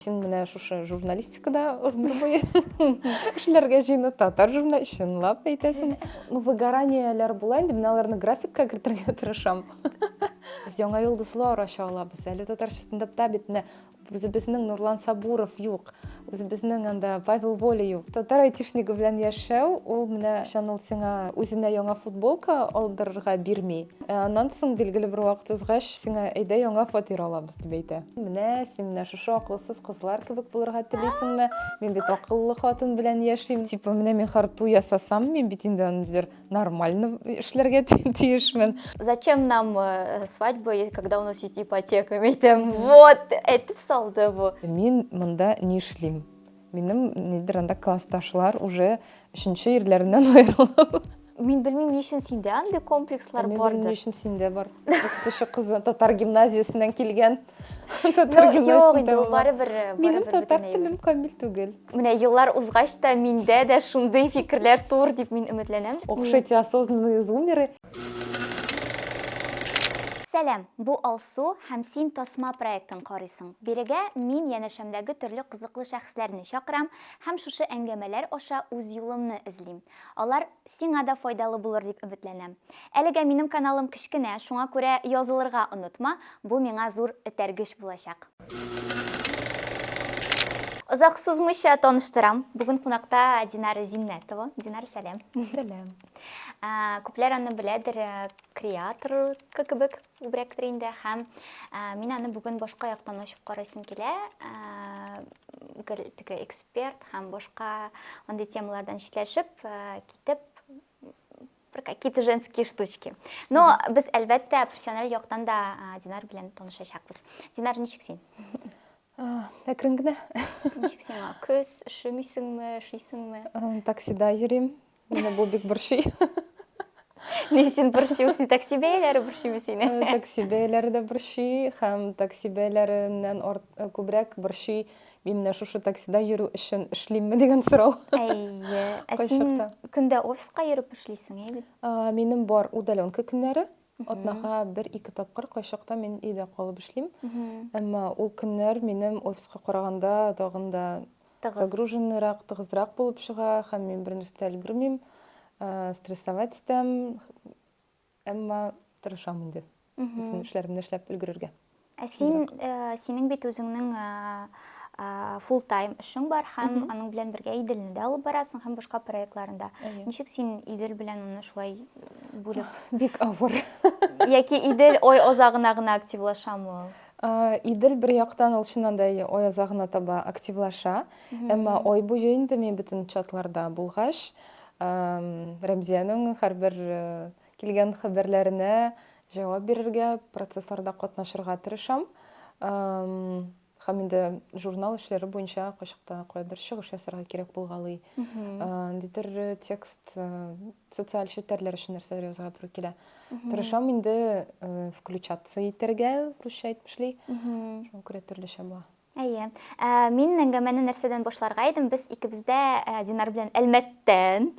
Син менә шушы журналистикада гомер буе эшләргә җыена, татар журнал чынлап әйтәсең. Ну, выгораниеләр була инде, мин аларны графикка кертергә тырышам. Без яңа йолдызлар ача алабыз. Әле татар стендапта бит менә үзебезнең Нурлан Сабуров юк, үзебезнең анда Павел Воля юк. Татар айтишнигы белән яшәү, ул менә чан ул сиңа үзенә яңа футболка алдырырга бирми. Ә аннан соң, билгеле бер вакыт узгач, сиңа әйдә яңа фатир алабыз. дип әйтә. Менә син менә шушы акылсыз кызлар кебек булырга телисеңме? Мин бит акыллы хатын белән яшим. Типа менә мин харту ясасам, мин бит инде аны диләр нормально эшләргә тиешмен. Зачем нам э, свадьба, когда у нас есть ипотека? Мин әйтәм, вот, әйтеп салды бу. Мин монда ни эшлим? Минем нидер анда классташлар уже өченче ирләреннән аерылып. Мин белмим, ни өчен синдә андый комплекслар Мин бардыр. Мин ни өчен синдә бар. Укытучы кызы татар гимназиясеннән килгән. Татар гимназиясендә ул барыбер. Э, Минем татар телем камил түгел. Менә еллар узгач та миндә дә шундый фикерләр тур дип мин өметләнәм. Охшите осознанные зумеры. Сәлам! Бу Алсу һәм син тасма проектын карыйсың. Бирегә мин янәшәмдәге төрле кызыклы шәхесләрне чакырам һәм шушы әңгәмәләр аша үз юлымны эзлим. Алар сиңа да файдалы булыр дип өметләнәм. Әлегә минем каналым кечкенә, шуңа күрә язылырга онытма, бу миңа зур этәргеч булачак. Озак сузмыйча таныштырам, бүген кунакта Динара Зиннәтова. Динара, сәлам! Сәлам! Ә, күпләр аны беләдер ә, креаторка кебек күбрәктер инде һәм ә, мин аны бүген башка яктан ачып карыйсым килә. Ә, гел теге эксперт һәм башка андый темалардан читләшеп ә, китеп бер какие-то женские штучки. Но без әлбәттә профессиональ яктан да ә, Динар белән танышачакбыз. Динар, ничек син? А, Әкрен генә. Ничек сиңа? Көз, üşемисеңме, üşисеңме? Ам, Таксида йөрим. Менә бу бик борчый. Ни өчен борчый ул? Син такси бәяләре борчыймы сине? Э, такси бәяләре дә борчый һәм такси бәяләреннән арт, э, күбрәк борчый мин менә шушы таксида йөрү өчен эшлимме дигән сорау. Әйе. Ә син Кайчакта. көндә офиска йөреп эшлисең, әйе бит? А, Минем бар удаленка көннәре. Атнага бер-ике тапкыр кайчакта мин өйдә калып эшлим. Әмма ул көннәр минем офиска караганда тагын да загруженныйрак, тыгызрак булып чыга һәм мин бернәрсә дә өлгермим, э, стрессовать итәм. Әмма тырышам инде. Бөтен эшләремне эшләп өлгерергә. Ә син, э, синең бит үзеңнең full time эшең бар һәм аның белән бергә Иделне дә алып барасың һәм башка проектларында. Ничек син Идел белән аны шулай бүлеп? Бик авыр. Яки Идел ой озагына гына активлашамы ул? Идел бер яктан ул чыннан да ой озагына таба активлаша, әмма ой буе инде мин бөтен чатларда булгач, Рәмзиянең һәрбер Килгән хәбәрләренә җавап бирергә, процессларда катнашырга тырышам. Һәм инде журнал эшләре буенча кайчакта каядыр чыгыш ясарга кирәк булгалый. Ниндидер текст социаль челтәрләр өчен нәрсәләр язарга туры килә. Тырышам инде включаться итәргә, русча әйтмешли. Шуңа күрә төрлечә була. Әйе. Ә, мин әңгәмәне нәрсәдән башларга идем? Без икебездә ә, Динар белән Әлмәттән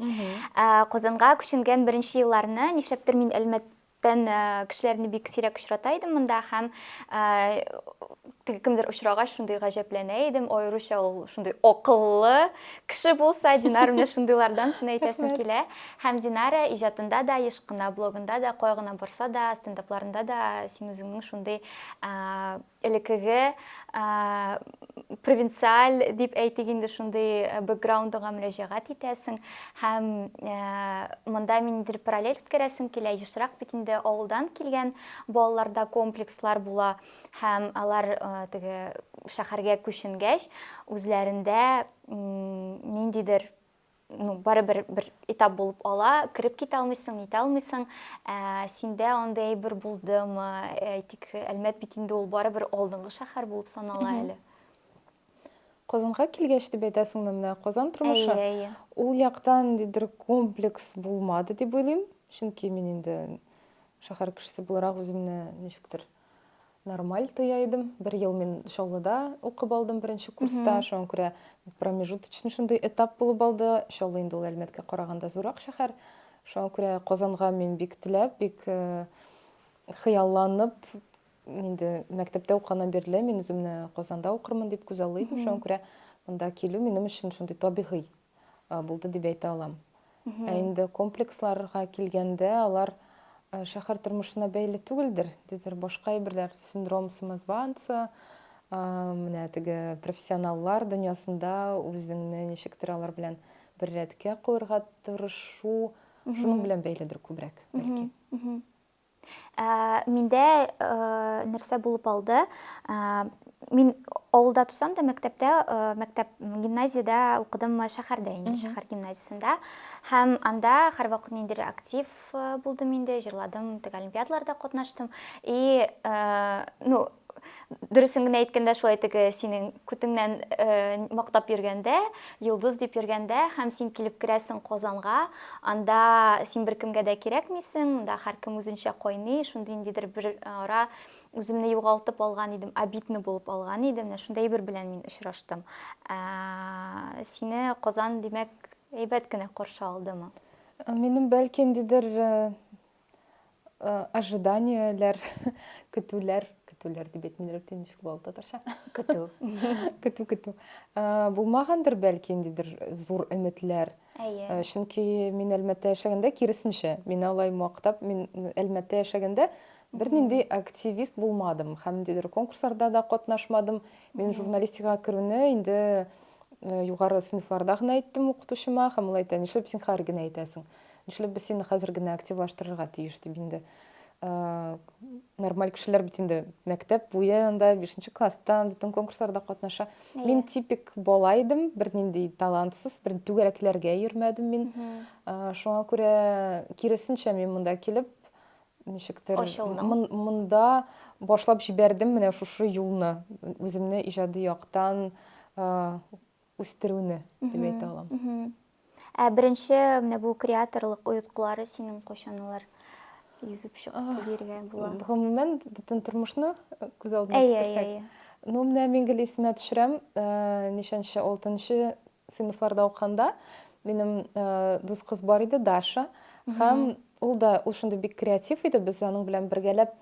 ә, Казанга күченгән беренче елларны, нишләптер мин Әлмәт тән э, кешеләрне бик сирәк очрата идем монда һәм э, теге кемдер очрагач шундый гаҗәпләнә идем аеруча ул шундый акыллы кеше булса динар менә шундыйлардан шуны әйтәсем килә һәм динара иҗатында да еш кына блогында да кая гына барса да стендапларында да син үзеңнең шундый э, элекеге провинциаль дип әйтик инде шундый бэкграундыңа мөрәҗәгать итәсең һәм монда миндер параллель үткәрәсең килә ешрак бит инде авылдан килгән балаларда комплекслар була һәм алар теге шәһәргә күченгәч үзләрендә ниндидер ну, барыбер бер этап булып ала, кереп китә алмыйсың, нитә алмыйсың, ә, синдә андай әйбер булдымы, әйтик, Әлмәт бит инде ул барыбер алдынгы шәһәр булып санала әле. Казанга килгәч дип әйтәсеңме менә Казан тормышы? Әйе, әйе. Ул яктан ниндидер комплекс булмады дип уйлыйм, чөнки мин инде шәһәр кешесе буларак үземне ничектер нормаль тоя идем. Бер ел мин Чаллыда укып алдым беренче курста. Шуңа күрә промежуточный шундый этап булып алды. Чаллы инде ул Әлмәткә караганда зуррак шәһәр. Шуңа күрә Казанга мин бик теләп, бик э, хыялланып инде мәктәптә укыганнан бирле мин үземне Казанда укырмын дип күзаллый идем. Шуңа күрә монда килү минем өчен шундый табигый булды дип әйтә алам. Ә инде комплексларга килгәндә, алар шәһәр тормышына бәйле түгелдер, дидер башка әйберләр, синдром самозванца, менә теге профессионаллар дөньясында үзеңне ничектер алар белән бер рәткә куярга тырышу, шуның белән бәйледер күбрәк, бәлки. Ә, миндә ә, нәрсә булып алды? Ә, мин авылда тусам да мәктәптә э, мәктәп гимназиядә укыдым э, шәһәрдә инде шәһәр гимназиясендә һәм анда һәрвакыт ниндидер актив э, булдым инде җырладым теге олимпиадаларда катнаштым и ну дөресен генә әйткәндә шулай теге синең күтеңнән мактап йөргәндә йолдыз дип йөргәндә һәм син килеп керәсең казанга анда син беркемгә дә кирәкмисең да һәркем үзенчә кайный шундый ниндидер бер ара үземне югалтып алган идем обидно булып алган идем менә шундай бер белән мин очраштым сине казан димәк әйбәт кенә каршы алдымы минем бәлки ниндидер Э, ожиданиеләр, көтүләр, көтүләр дип әйтмиләр бит инде шул ул татарча. Көтү. Көтү, көтү. Э, Булмагандыр бәлки ниндидер зур өметләр. Әйе. Э, Чөнки мин Әлмәттә яшәгәндә киресенчә, мин алай мактап, мин Әлмәттә яшәгәндә бернинди активист булмадым һәм ниндидер конкурсларда да катнашмадым. Мин журналистикага керүне инде э, югары сыйныфларда гына әйттем укытучыма һәм ул әйтә, нишләп син хәер генә әйтәсең? Нишләп без сине хәзер генә активлаштырырга тиеш дип инде нормаль кешеләр бит инде мәктәп буен да бишенче класстан бөтен конкурсларда катнаша yeah. мин типик бала идем бернинди талантсыз бер түгәрәкләргә йөрмәдем мин mm -hmm. шуңа күрә киресенчә мин монда килеп ничектер монда башлап җибәрдем менә шушы юлны үземне иҗади яктан үстерүне дип әйтә алам. Ә беренче менә бу креаторлык оеткылары синең кайчан алар йөзеп чыкты диергә була? Гомумән, бөтен тормышны күз алдына китерсәк. Ну, менә мин гел исемә төшерәм, ничәнче, алтынчы сыйныфларда укыганда минем дус кыз бар иде, Даша. Һәм ул да ул шундый бик креатив иде, без аның белән бергәләп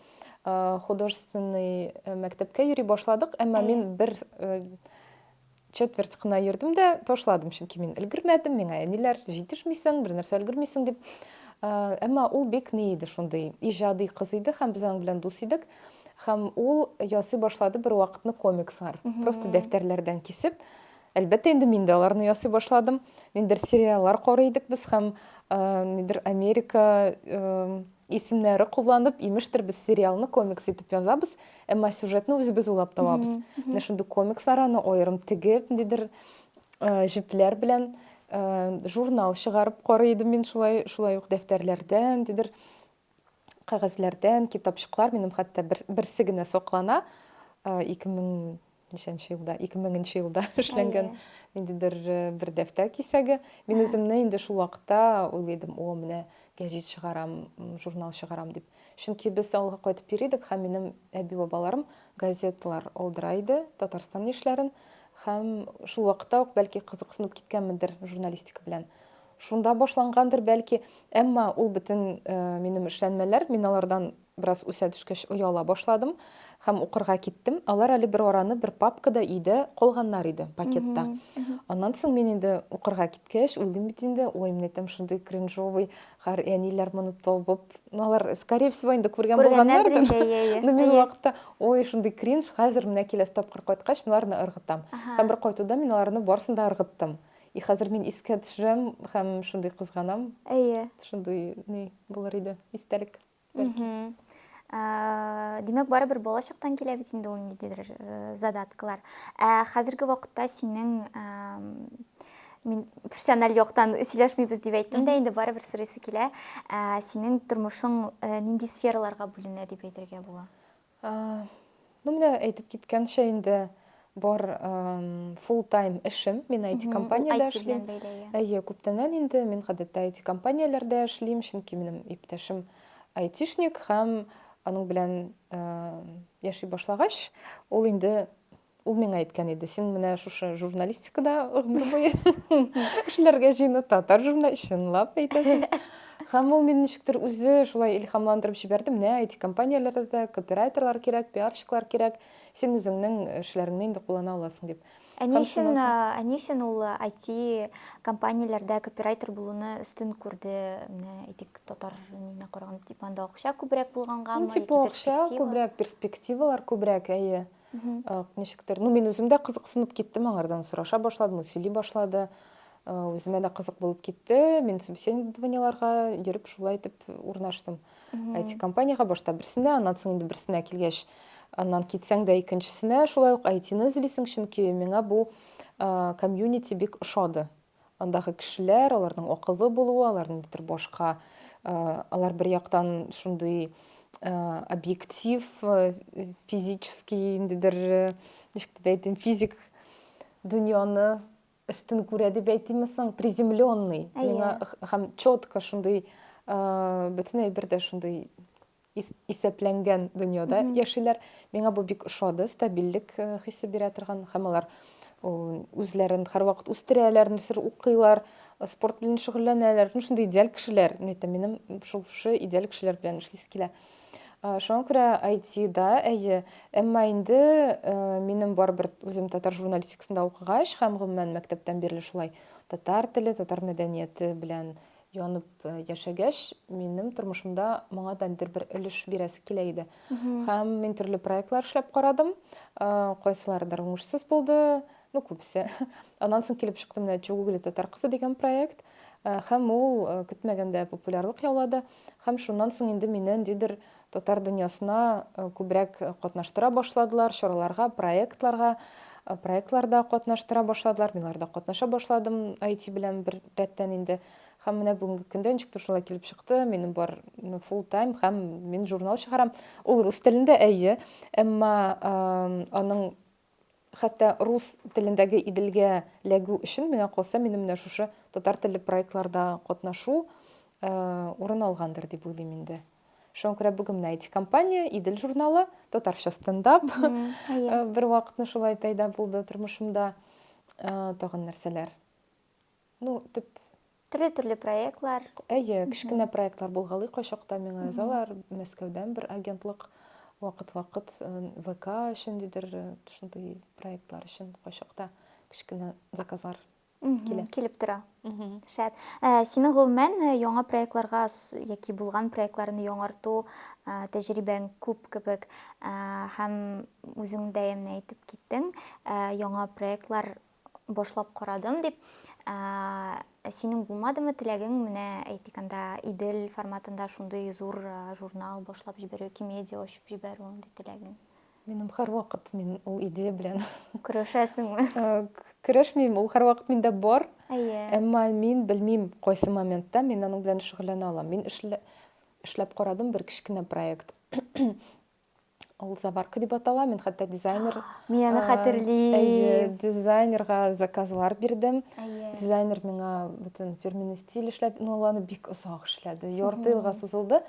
художественный мәктәпкә йөри башладык, әмма мин бер Четверть кына йөрдем дә ташладым, чөнки мин өлгермәдем, миңа әниләр җитешмисең, бер нәрсә өлгермисең дип. Әмма ул бик ни иде шундый, иҗади кыз иде һәм без аның белән дус идек. Һәм ул ясый башлады бер вакытны комикслар. Просто дәфтәрләрдән кисеп, әлбәттә инде мин дә аларны ясый башладым. Ниндер сериаллар карый идек без һәм нидер Америка исемнәре кулланып, имештер без сериалны комикс итеп язабыз, әмма сюжетны үзебез уйлап табабыз. Менә шундый комикслар аны аерым тегеп, ниндидер э, җепләр белән э, журнал чыгарып карый идем мин шулай, шулай ук дәфтәрләрдән, ниндидер кәгазьләрдән, китапчыклар минем хәтта берсе генә саклана. 2000 ничәнче елда, 2000 елда эшләнгән ниндидер э, бер дәфтәр кисәге. Мин үземне инде шул вакытта уйлыйдым, о, менә гәҗит чыгарам, журнал чыгарам дип. Чөнки без авылга кайтып йөри идек һәм минем әби-бабаларым газеталар алдыра иде, Татарстан яшьләрен һәм шул вакытта ук бәлки кызыксынып киткәнмендер журналистика белән шунда башлангандыр бәлки әмма ул бөтен э, минем эшләнмәләр мин алардан Бераз үсә төшкәч, ояла башладым һәм укырга киттем. Алар әле бер араны бер папкада өйдә калганнар иде, пакетта. Аннан соң мин инде укырга киткәч, уйлыйм бит инде, ой, менә там шундый кринжовый хәр, әниләр моны табып, ну, алар, скорее всего, инде күргән булганнардыр. Но мин вакытта, ой, шундый кринж, хәзер менә киләсе тапкыр кайткач, мин аларны ыргытам. Һәм бер кайтуда мин аларны барысын да ыргыттым. И хәзер мин искә төшерәм һәм шундый кызганам. Әйе. Шундый ни булыр иде, истәлек. Бәлки. Ә, димәк, барыбер балачактан килә бит инде ул ниндидер э, задаткалар. Ә хәзерге вакытта синең ә, мин профессиональ яктан сөйләшмибез дип әйттем дә, инде барыбер сорыйсы килә. Ә, синең тормышың э, нинди сфераларга бүленә дип әйтергә була? Ну, менә әйтеп киткәнчә инде бар full time эшем. Мин IT компаниядә эшлим. Әйе, күптәннән инде мин гадәттә IT компанияләрдә эшлим, чөнки минем иптәшем айтишник һәм аның белән яши башлагач, ул инде Ул миңа әйткән иде, син менә шушы журналистикада гомер буе эшләргә җыена, татар журнал чынлап әйтәсең. Һәм ул мине ничектер үзе шулай илһамландырып җибәрде. Менә IT-компанияләрдә дә копирайтерлар кирәк, пиарщиклар кирәк. Син үзеңнең эшләреңне инде куллана аласың дип. Ә ни өчен, ә ни өчен ул IT-компанияләрдә копирайтер булуны өстен күрде? Менә әйтик, татар нигезенә караганда, типа анда акча күбрәк булгангамы, яки перспектива? Типа акча күбрәк, перспективалар күбрәк, әйе. Ничектер, ну мин үзем дә кызыксынып киттем, аңардан сораша башладым, ул сөйли башлады. Үземә дә кызык булып китте. Мин собеседованиеларга йөреп шулай итеп урнаштым. IT компанияга башта берсенә, аннан соң инде берсенә килгәч, аннан китсәң дә икенчесенә шулай ук IT-ны эзлисең, чөнки миңа бу комьюнити бик ошады. Андагы кешеләр, аларның акыллы булуы, алар ниндидер башка, алар бер яктан шундый объектив, физический, ниндидер, ничек дип әйтим, физик дөньяны өстен күрә дип әйтимме соң, приземленный. Миңа һәм четко шундый бөтен әйбер дә шундый исәпләнгән дөньяда яшиләр. Миңа бу бик ошады, стабильлек э, хисе бирә торган һәм алар үзләрен һәрвакыт үстерәләр, нәрсәдер укыйлар, э, спорт белән шөгыльләнәләр. Ну шундый идеаль кешеләр. Ну әйтәм, минем шул шушы идеаль кешеләр белән эшлисе килә. Э, шуңа күрә IT-да, әйе, әмма инде минем барыбер үзем татар журналистикасында укыгач һәм гомумән мәктәптән бирле шулай татар теле, татар мәдәнияте белән янып яшәгәч, минем тормышымда моңа да нидер бер өлеш бирәсе килә иде. Һәм мин төрле проектлар эшләп карадым. Кайсылардыр уңышсыз булды, ну күбесе. Аннан соң килеп чыкты менә Чугугли татар кызы дигән проект. Һәм ул көтмәгәндә популярлык яулады. Һәм шуннан соң инде мине ниндидер Татар дөньясына күбрәк катнаштыра башладылар, чараларга, проектларга, проектларда катнаштыра башладылар. Мин аларда катнаша башладым IT белән бер рәттән инде. Һәм менә бүгенге көндә ничек тә шулай килеп чыкты. Минем бар full time һәм мин журнал чыгарам. Ул рус телендә, әйе, әмма аның Хәтта рус телендәге Иделгә ләгү өчен миңа калса, минем менә шушы татар телле проектларда катнашу урын алгандыр дип уйлыйм инде. Шуңа күрә бүген менә IT компания, Идел журналы, татарча стендап бер вакытны шулай пәйда булды тормышымда. Тагын нәрсәләр? Ну, тип төрле-төрле проектлар. Әйе, кечкенә проектлар булгалый кайчакта миңа язалар. Мәскәүдән бер агентлык вакыт-вакыт э, ВК өчен дидер, э, шундый проектлар өчен кайчакта кечкенә заказлар килә. Килеп тора. Шәп. Ә, синең гомумән э, яңа проектларга яки булган проектларны яңарту ә, тәҗрибәң күп кебек ә, һәм үзең дә әйтеп киттең, ә, яңа проектлар башлап карадым дип. Ә, ә синең булмадымы теләгең менә әйтик анда Идел форматында шундый зур журнал башлап җибәрү, Кимедиа ачып җибәрү андый теләгең? Минем һәрвакыт мин ул идея белән көрәшәсеңме? Көрәшмим, ул һәрвакыт миндә бар. Әйе. Әмма мин белмим, кайсы моментта мин аның белән шөгыльләнә алам. Мин эшләп карадым бер кечкенә проект. Ул заварка дип атала. Мин хәтта дизайнер Мин аны а, хәтерлим. Әйе, дизайнерга заказлар бирдем. Әйе. Дизайнер миңа бөтен фирменный стиль эшләп, ну ул аны бик озак эшләде. Ярты елга сузылды.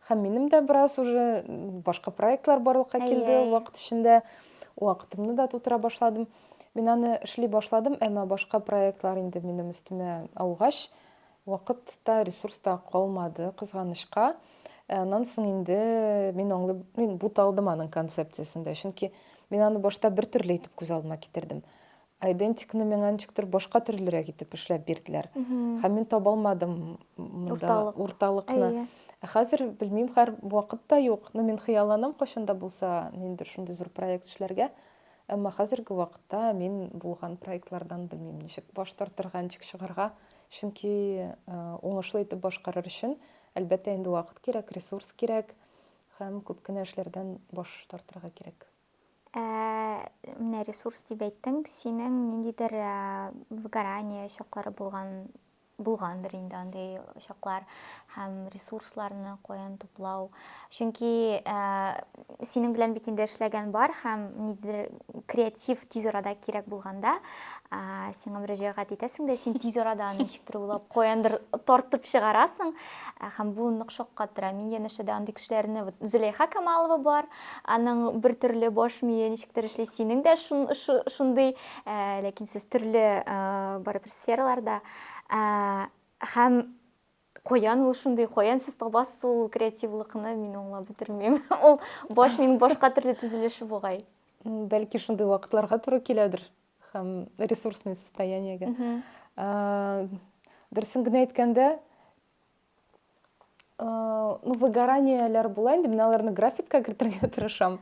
Һәм минем дә бераз уже башка проектлар барлыкка килде Әйе. вакыт эчендә. Вакытымны да тутыра башладым. Мин аны эшли башладым, әмма башка проектлар инде минем өстемә аугач, Вакыт та, ресурс та калмады, кызганычка. Ә аннан соң инде мин аңлый, мин буталдым аның концепциясендә. Чөнки мин аны башта бер төрле итеп күз алдыма китердем. Айдентикны миңа ничектер башка төрлерәк итеп эшләп бирделәр. Һәм мин таба алмадым монда урталыкны. Ә хәзер белмим, хәр вакыт та юк. Ну, мин хыялланам кайчан да булса, ниндидер шундый зур проект эшләргә. Әмма хәзерге вакытта мин булган проектлардан белмим, ничек баш тартырга, ничек чыгарга. Чөнки уңышлы итеп башкарыр өчен, әлбәттә инде, вакыт кирәк, ресурс кирәк һәм күп кенә эшләрдән баш тартырга кирәк. Ә, менә ресурс дип әйттең, синең ниндидер выгорание чаклары булган булгандыр инде андый чаклар һәм ресурсларны каян туплау Чөнки синең белән бит инде эшләгән бар һәм нидер креатив тиз арада кирәк булганда сиңа мөрәҗәгать итәсең дә син тиз арада аны ничектер уйлап каяндыр тартып чыгарасың һәм бу нык шаккатыра мин янәшәдә андый кешеләрне вот зөләйха камалова бар аның бер төрле баш мие ничектер эшли синең дә шундый ләкин сез төрле барыбер сфераларда һәм Каян ул шундый, каян сез табасыз ул креативлыкны, мин аңлап бетермим. Ул баш минем башка төрле төзелеше бугай. Бәлки шундый вакытларга туры киләдер һәм ресурсный состояниегә. Дөресен генә әйткәндә, ну выгораниеләр була инде, мин аларны графикка кертергә тырышам.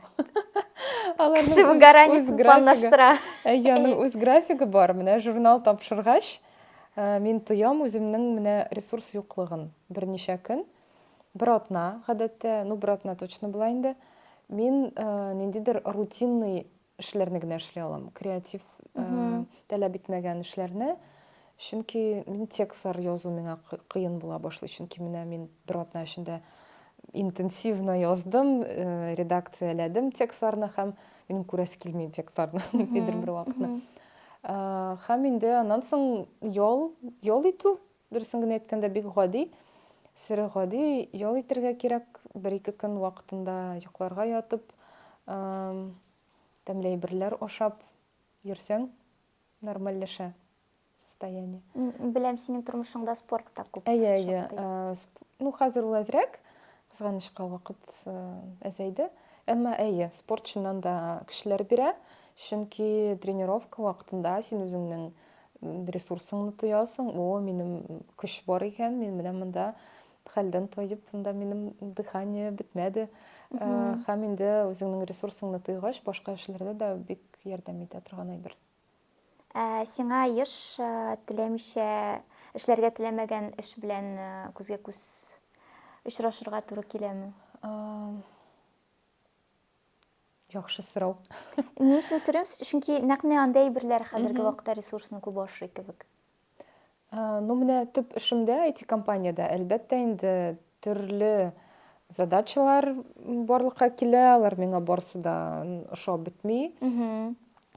Кеше выгораниесен планлаштыра. Әйе, аның үз графигы бар. Менә журнал тапшыргач, Мин тоям үземнең менә ресурс юклыгын. Берничә көн, бер атна, гадәттә, ну, бер атна точно була инде, мин ниндидер рутинный эшләрне генә эшли алам. Креатив таләп итмәгән эшләрне. Чөнки мин текстлар язу миңа кыен була башлый. Чөнки менә мин бер атна эчендә интенсивно яздым, редакцияләдем текстларны һәм Минем күрәсе килми инфектларны нидер бер вакытны. Һәм инде аннан соң ял, ял итү, дөресен генә әйткәндә, бик гади. Сире гади ял итәргә кирәк. Бер-ике көн вакытында йокларга ятып, тәмле әйберләр ашап йөрсәң, нормальләшә. состояние. Беләм, синең тормышыңда спорт та күп. Әйе, әйе. Э, ну, хәзер ул әзрәк, кызганычка вакыт э, әзәйде. Әмма әйе, спорт чыннан да көчләр бирә, чөнки тренировка вакытында син үзеңнең ресурсыңны тоясың, о, минем көч бар икән, мин менә монда хәлдән тоеп, монда минем дыхание бетмәде. Э, һәм инде үзеңнең ресурсыңны тойгач, башка эшләрдә дә бик ярдәм итә торган әйбер. Ә сиңа еш э, теләмичә эшләргә теләмәгән эш белән э, күзгә күз очрашырга туры киләме? Яхшы сорау. Ни өчен сорыйм? Чөнки нәкъ менә андый әйберләр хәзерге вакытта ресурсны күп ашый кебек. Ну, менә төп эшемдә, IT-компаниядә, әлбәттә инде, төрле задачалар барлыкка килә, алар миңа барысы да ошап бетми.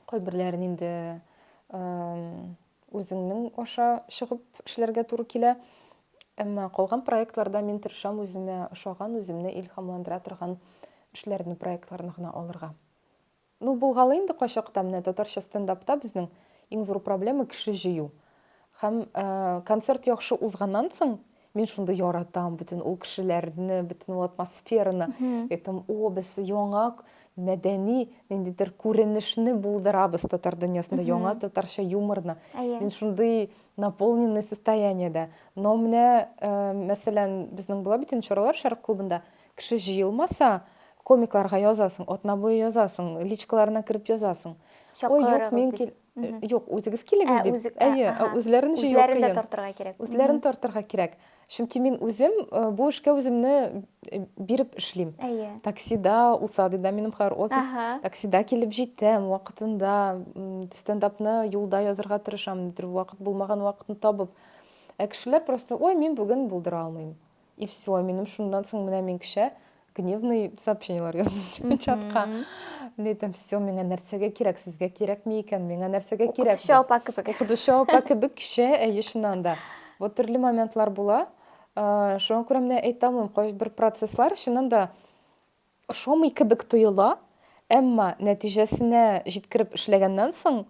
Кайберләрен инде үзеңнең аша чыгып эшләргә туры килә. Әмма калган проектларда мин тырышам үземә ошаган, үземне илһамландыра торган эшләрне, проектларны гына алырга. Ну булгалый инде кайчакта менә татарча стендапта безнең иң зур проблема кеше җыю. Һәм э, концерт яхшы узганнан соң мин шундый яратам бөтен ул кешеләрне, бөтен ул атмосфераны. Әйтәм, о, без яңа мәдәни ниндидер күренешне булдырабыз татар дөньясында, яңа татарча юморны. Әйе. Мин шундый наполненный состояниедә. Но менә, э, мәсәлән, безнең була бит инде чаралар Шәрык клубында. Кеше җыелмаса, комикларга язасың, атна буе язасың, личкаларына кереп язасың. Ой, юк, мин кил... Юк, үзегез килегез дип. Әйе, үзләрен җыю кыен. Үзләрен дә тартырга кирәк. Үзләрен тартырга кирәк. Чөнки мин үзем бу эшкә үземне биреп эшлим. Әйе. Таксида, Усадыда минем хәзер офис. Таксида килеп җитәм, вакытында стендапны юлда язырга тырышам, нидер вакыт булмаган вакытны табып. Ә кешеләр просто, ой, мин бүген булдыра алмыйм. И все, минем шундан соң менә мин кеше гневный сообщениелар яздым чатка. Мин әйтәм, все, миңа нәрсәгә кирәк, сезгә кирәкми икән, миңа нәрсәгә кирәк? Укытучы апа кебек. Укытучы апа кебек кеше, әйе, чыннан да. Вот төрле моментлар була. Э, шуңа күрә менә әйтә алмыйм, кайбер процесслар чыннан да ошамый кебек тоела, әмма нәтиҗәсенә җиткереп эшләгәннән соң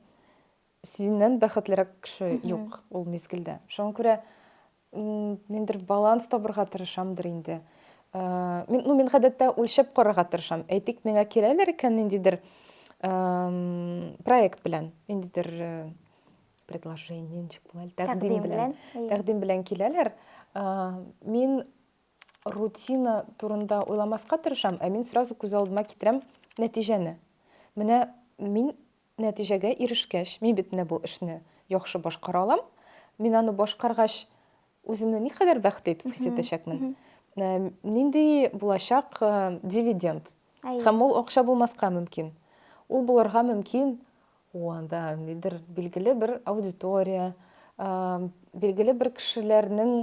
синнән бәхетлерәк кеше юк ул мизгелдә. Шуңа күрә Нендер баланс табырга тырышамдыр инде. Мин, ну, мин гадәттә үлчәп карарга тырышам. Әйтик, миңа киләләр икән ниндидер проект белән, ниндидер э, предложение, ничек була, тәкъдим белән, тәкъдим белән киләләр. Мин рутина турында уйламаска тырышам, ә мин сразу күз алдыма китерәм нәтиҗәне. Менә мин Нәтиҗәгә ирешкәч, мин бит менә бу эшне яхшы башкара алам, мин аны башкаргач, үземне никадәр бәхетле итеп хис итәчәкмен, нинди булачак дивиденд, һәм ул акча булмаска мөмкин, ул булырга мөмкин, ул анда нидер билгеле бер аудитория, билгеле бер кешеләрнең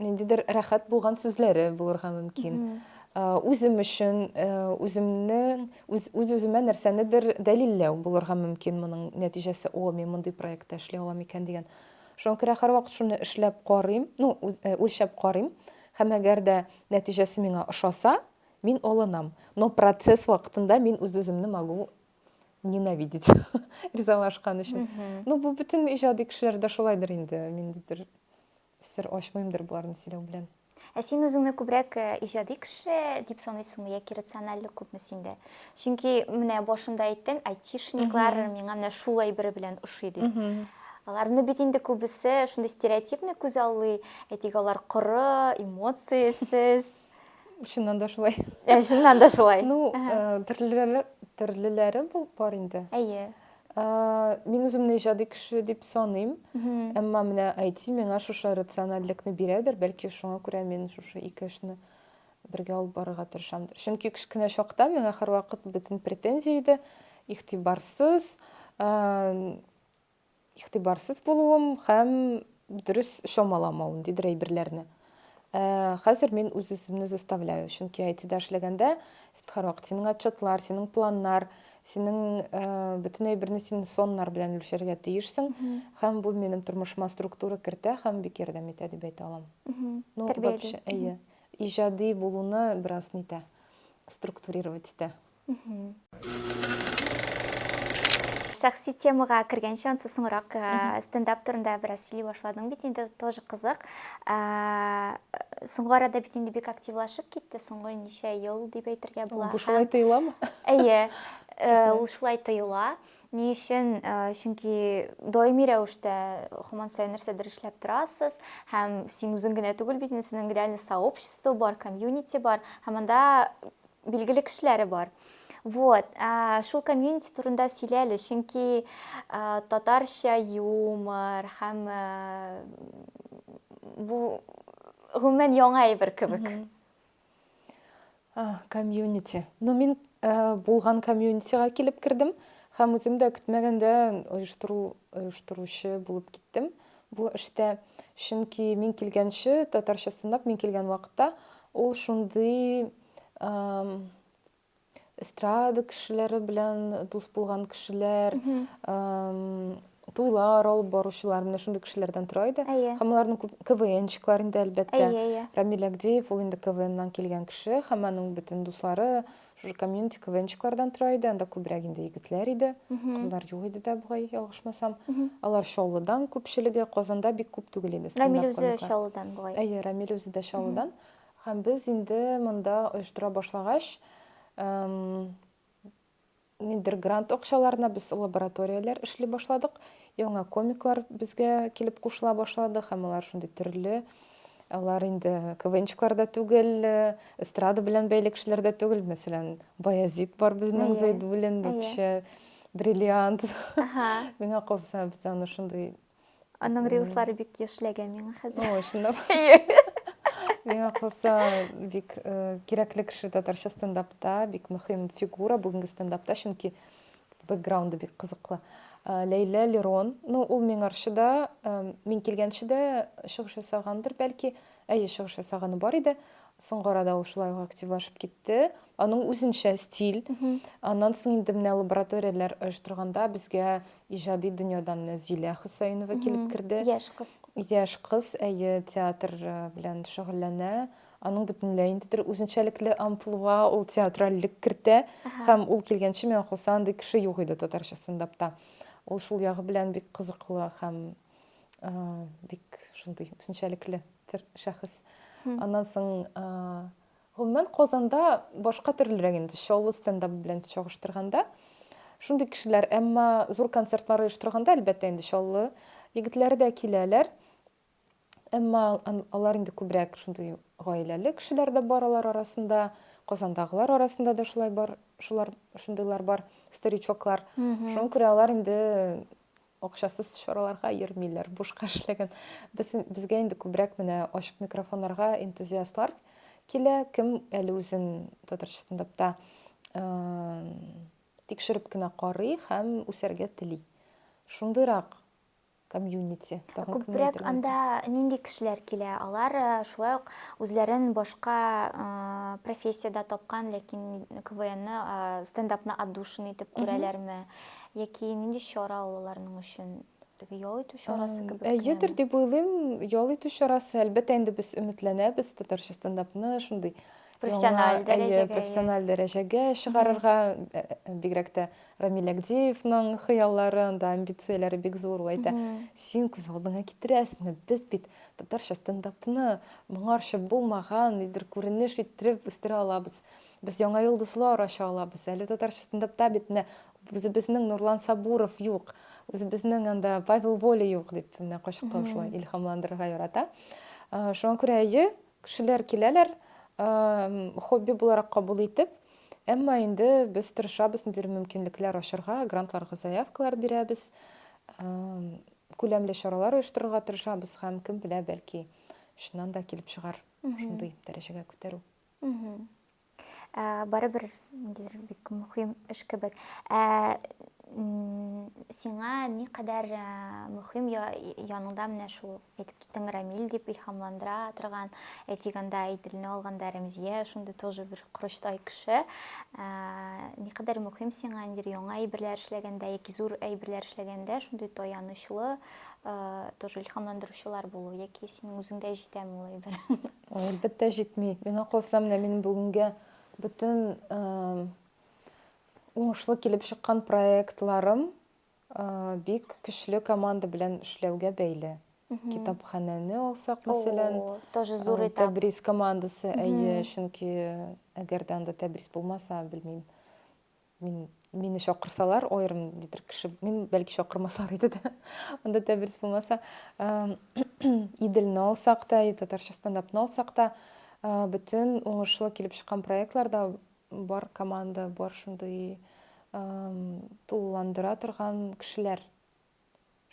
ниндидер рәхәт булган сүзләре булырга мөмкин. Mm -hmm. Үзем өчен үземнең үз-үземә нәрсәнедер дәлилләү булырга мөмкин моның нәтиҗәсе, о, мин мондый проектта эшли алам икән дигән. Шуңа күрә һәрвакыт шуны эшләп карыйм, ну, үлчәп карыйм. Һәм әгәр дә нәтиҗәсе миңа ошаса, мин алынам. Но процесс вакытында мин үз-үземне могу ненавидеть ризалашкан өчен. Ну, бу бөтен иҗади кешеләрдә шулайдыр инде, миндидер Сер ачмыймдыр боларны сөйләү белән. Ә син үзеңне күбрәк э, иҗади кеше дип саныйсыңмы яки рациональлек күпме синдә? Чөнки менә башында әйттең, айтишниклар миңа менә шул әйбер белән ошый дип. Аларны бит инде күбесе шундый стереотипны күз аллый, әйтик, алар коры, эмоциясез. Чыннан да шулай. Ә, чыннан да шулай. Ну, э, төрлеләре, төрлеләре бу бар инде. Әйе. Мин үземне иҗади кеше дип саныйм. Әмма менә IT миңа шушы рациональлекне бирәдер, бәлки шуңа күрә мин шушы ике эшне бергә алып барырга тырышамдыр. Чөнки кечкенә чакта миңа һәрвакыт бөтен претензия иде, игътибарсыз, игътибарсыз булуым һәм дөрес чамаламавым, дидер әйберләрне. Хәзер мин үз-үземне заставляю, чөнки IT-да эшләгәндә син һәрвакыт синең отчетлар, синең планнар, синең бөтен әйберне син соннар белән үлчәргә тиешсең, һәм бу минем тормышыма структура кертә һәм бик ярдәм итә дип әйтә алам. Ну, вообще, әйе, иҗади булуны бераз нитә, структурировать итә. Шәхси темага кергәнче, ансы соңрак стендап турында бераз сөйли башладың бит, инде тоже кызык. Соңгы арада бит инде бик активлашып китте, соңгы ничә ел дип әйтергә була. Бу шулай тоеламы? Әйе, ул шулай тоела. Ни өчен? Чөнки даими рәвештә һаман саен нәрсәдер эшләп торасыз, һәм син үзең генә түгел бит, сезнең реально сообщество бар, комьюнити бар, һәм анда Билгеле кешеләре бар. Вот, шул комьюнити турында сөйлә әле, чөнки татарча юмор һәм бу гомумән яңа әйбер кебек. Комьюнити. Ну, мин булган комьюнитига килеп кердем һәм үзем дә көтмәгәндә оештыру оештыручы булып киттем бу эштә. Чөнки мин килгәнче татарча стендап мин килгән вакытта ул шундый эстрада кешеләре белән дус булган кешеләр туйлар алып баручылар менә шундый кешеләрдән тора иде һәм аларның күп квнщиклар инде әлбәттә рамил әгдиев ул инде квннан килгән кеше һәм аның бөтен дуслары шушы комьюнити квнщиклардан тора иде анда күбрәк инде егетләр иде кызлар юк иде дә бугай ялгышмасам алар чаллыдан күпчелеге казанда бик күп түгел иде рамил үзе чаллыдан бугай әйе рамил үзе дә чаллыдан Һәм без инде монда оештыра башлагач, ниндидер грант акчаларына без лабораторияләр эшли башладык. Яңа комиклар безгә килеп кушыла башлады һәм алар шундый төрле. Алар инде КВНчиклар да түгел, эстрада белән бәйле кешеләр дә түгел. Мәсәлән, Баязит бар безнең Зәйдуллин, вообще бриллиант. Миңа калса, без аны шундый Аның рилслары бик яшьләгә миңа хәзер. Ой, шунда. Миңа калса, бик э, кирәкле кеше татарча стендапта, бик мөһим фигура бүгенге стендапта, чөнки бэкграунды бик кызыклы. Э, Ләйлә Лерон, ну, ул миң арчы да, э, мин килгәнче дә чыгыш ясагандыр, бәлки, әйе, чыгыш ясаганы бар иде. Соңгы арада ул шулай ук активлашып китте. Аның үзенчә стиль. Аннан соң инде менә лабораторияләр оештырганда безгә Иҗади дөньядан Нәзилә Хөсәенова килеп керде. Яшь кыз. Яшь кыз, әйе, театр белән шөгыльләнә. Аның бөтенләй инде бер үзенчәлекле амплуа, ул театральлек кертә. Һәм ул килгәнче, миңа калса, андый кеше юк иде татарча стендапта. Ул шул ягы белән бик кызыклы һәм бик шундый үзенчәлекле бер шәхес. Аннан соң Гомумән, Казанда башка төрлерәк инде, Чаллы стендабы белән чагыштырганда. Шундый кешеләр, әмма зур концертлар оештырганда, әлбәттә инде, Чаллы егетләре дә киләләр. Әмма алар инде күбрәк шундый гаиләле кешеләр дә бар алар арасында, Казандагылар арасында да шулай бар, шулар, шундыйлар бар, старичоклар. Шуңа күрә алар инде Акчасыз чараларга йөрмиләр, бушка эшләгән. Без, безгә инде күбрәк менә ачык микрофоннарга энтузиастлар килә, кем әле үзен татарча стендапта тикшереп кенә карый һәм үсәргә тели. Шундыйрак комьюнити. Тагын кемне Күбрәк әйтергә анда нинди кешеләр килә? Алар э, шулай ук үзләрен башка э, профессиядә тапкан, ләкин КВНны, э, стендапны отдушина итеп күрәләрме? Яки нинди чара ул аларның өчен? Теге ял итү чарасы кебек. Әйедер дип уйлыйм, ял итү чарасы. Әлбәттә, инде без өметләнәбез татарча стендапны шундый профессиональ дәрәҗәгә профессиональ дәрәҗәгә чыгарырга бигрәк тә рамил әгдиевның хыяллары анда амбицияләре бик зур ул әйтә син күз алдыңа китерәсеңме без бит татарча стендапны моңарча булмаган нидер күренеш иттереп үстерә алабыз Без яңа йолдызлар ача алабыз. Әле татарча стендапта бит менә үзебезнең Нурлан Сабуров юк, үзебезнең анда Павел Воля юк, дип менә кочаклау шулай илһамландырырга ярата. Шуңа күрә әйе, кешеләр киләләр, хобби буларак кабул итеп, әмма инде без тырышабыз ниндидер мөмкинлекләр ачарга, грантларга заявкалар бирәбез, күләмле чаралар оештырырга тырышабыз һәм кем белә, бәлки, чыннан да килеп чыгар шундый дәрәҗәгә күтәрү. Барыбер ниндидер бик мөһим эш кебек. Ә сиңа никадәр мөһим яныңда менә шул әйтеп киттең Рамил дип илһамландыра торган, әйтик анда Иделне алганда Рәмзия шундый тоже бер корычтай кеше. Никадәр мөһим сиңа ниндидер яңа әйберләр эшләгәндә яки зур әйберләр эшләгәндә шундый таянычлы тоже илһамландыручылар булу яки синең үзеңдә җитәме ул әйбер? Ой, әлбәттә җитми. Миңа калса, менә минем бүгенгә бөтен уңышлы килеп чыккан проектларым бик көчле команда белән эшләүгә бәйле. Китапханәне алсак, мәсәлән, тоже зур этап. Тәбрис командасы, әйе, чөнки әгәр дә анда Тәбрис булмаса, белмим, Мин мине чакырсалар, аерым дидер кеше, мин бәлки чакырмаслар иде дә. Анда тәбрис булмаса, Иделне алсак та, татарча стендапны алсак та, бөтен уңышлы килеп чыккан проектларда бар команда, бар шундый тулыландыра торган кешеләр.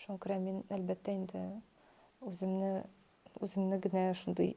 Шуңа күрә мин, әлбәттә, инде үземне үземне генә шундый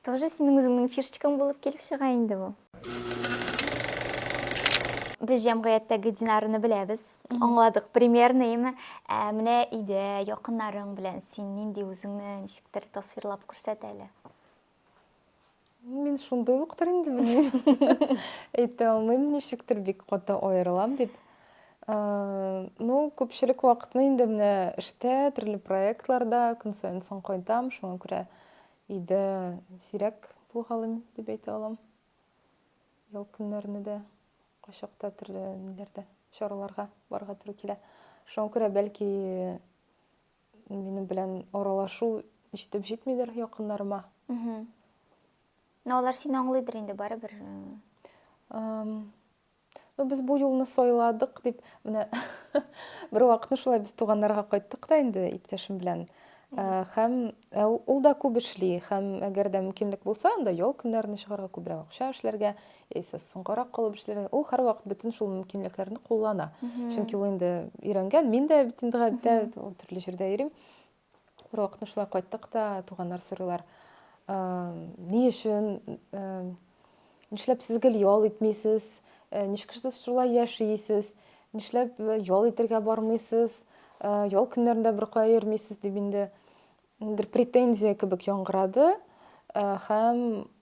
Тоже синең үзеңнең фишечкаң булып килеп чыга инде бу. Без җәмгыятьтәге Динарны беләбез, аңладык примерныймы? Ә менә өйдә, якыннарың белән син нинди үзеңне ничектер тасвирлап күрсәт әле. Мин шундый уктыр инде, белмим. Әйтә алмыйм, ничектер бик каты аерылам дип. Ну, күпчелек вакытны инде менә эштә, төрле проектларда көн саен соң кайтам, шуңа күрә Өйдә сирәк булгалыйм дип әйтә алам. Ял көннәрне дә кайчакта төрле ниләрдә, чараларга барга туры килә. Шуңа күрә бәлки минем белән аралашу җитеп җитмидер якыннарыма. Мә алар сине аңлыйдыр инде барыбер. Ам, Ну, без бу юлны сайладык, дип, менә бервакытны шулай без туганнарга кайттык та инде иптәшем белән. Ә, Һәм ә, ул да күп эшли, һәм әгәр дә мөмкинлек булса, анда ял көннәренә чыгарга, күбрәк акча эшләргә, яисә соңгарак калып эшләргә. Ул һәрвакыт бөтен шул мөмкинлекләрне куллана. Чөнки ул инде өйрәнгән, мин дә бит инде гадәттә төрле җирдә йөрим. Бер вакытны шулай кайттык та, туганнар сорыйлар, ни өчен, нишләп сез гел ял итмисез, ничек сез шулай яшисез, нишләп ял итергә бармыйсыз, ял көннәрендә бер кая йөрмисез, дип инде бер претензия кебек яңгырады һәм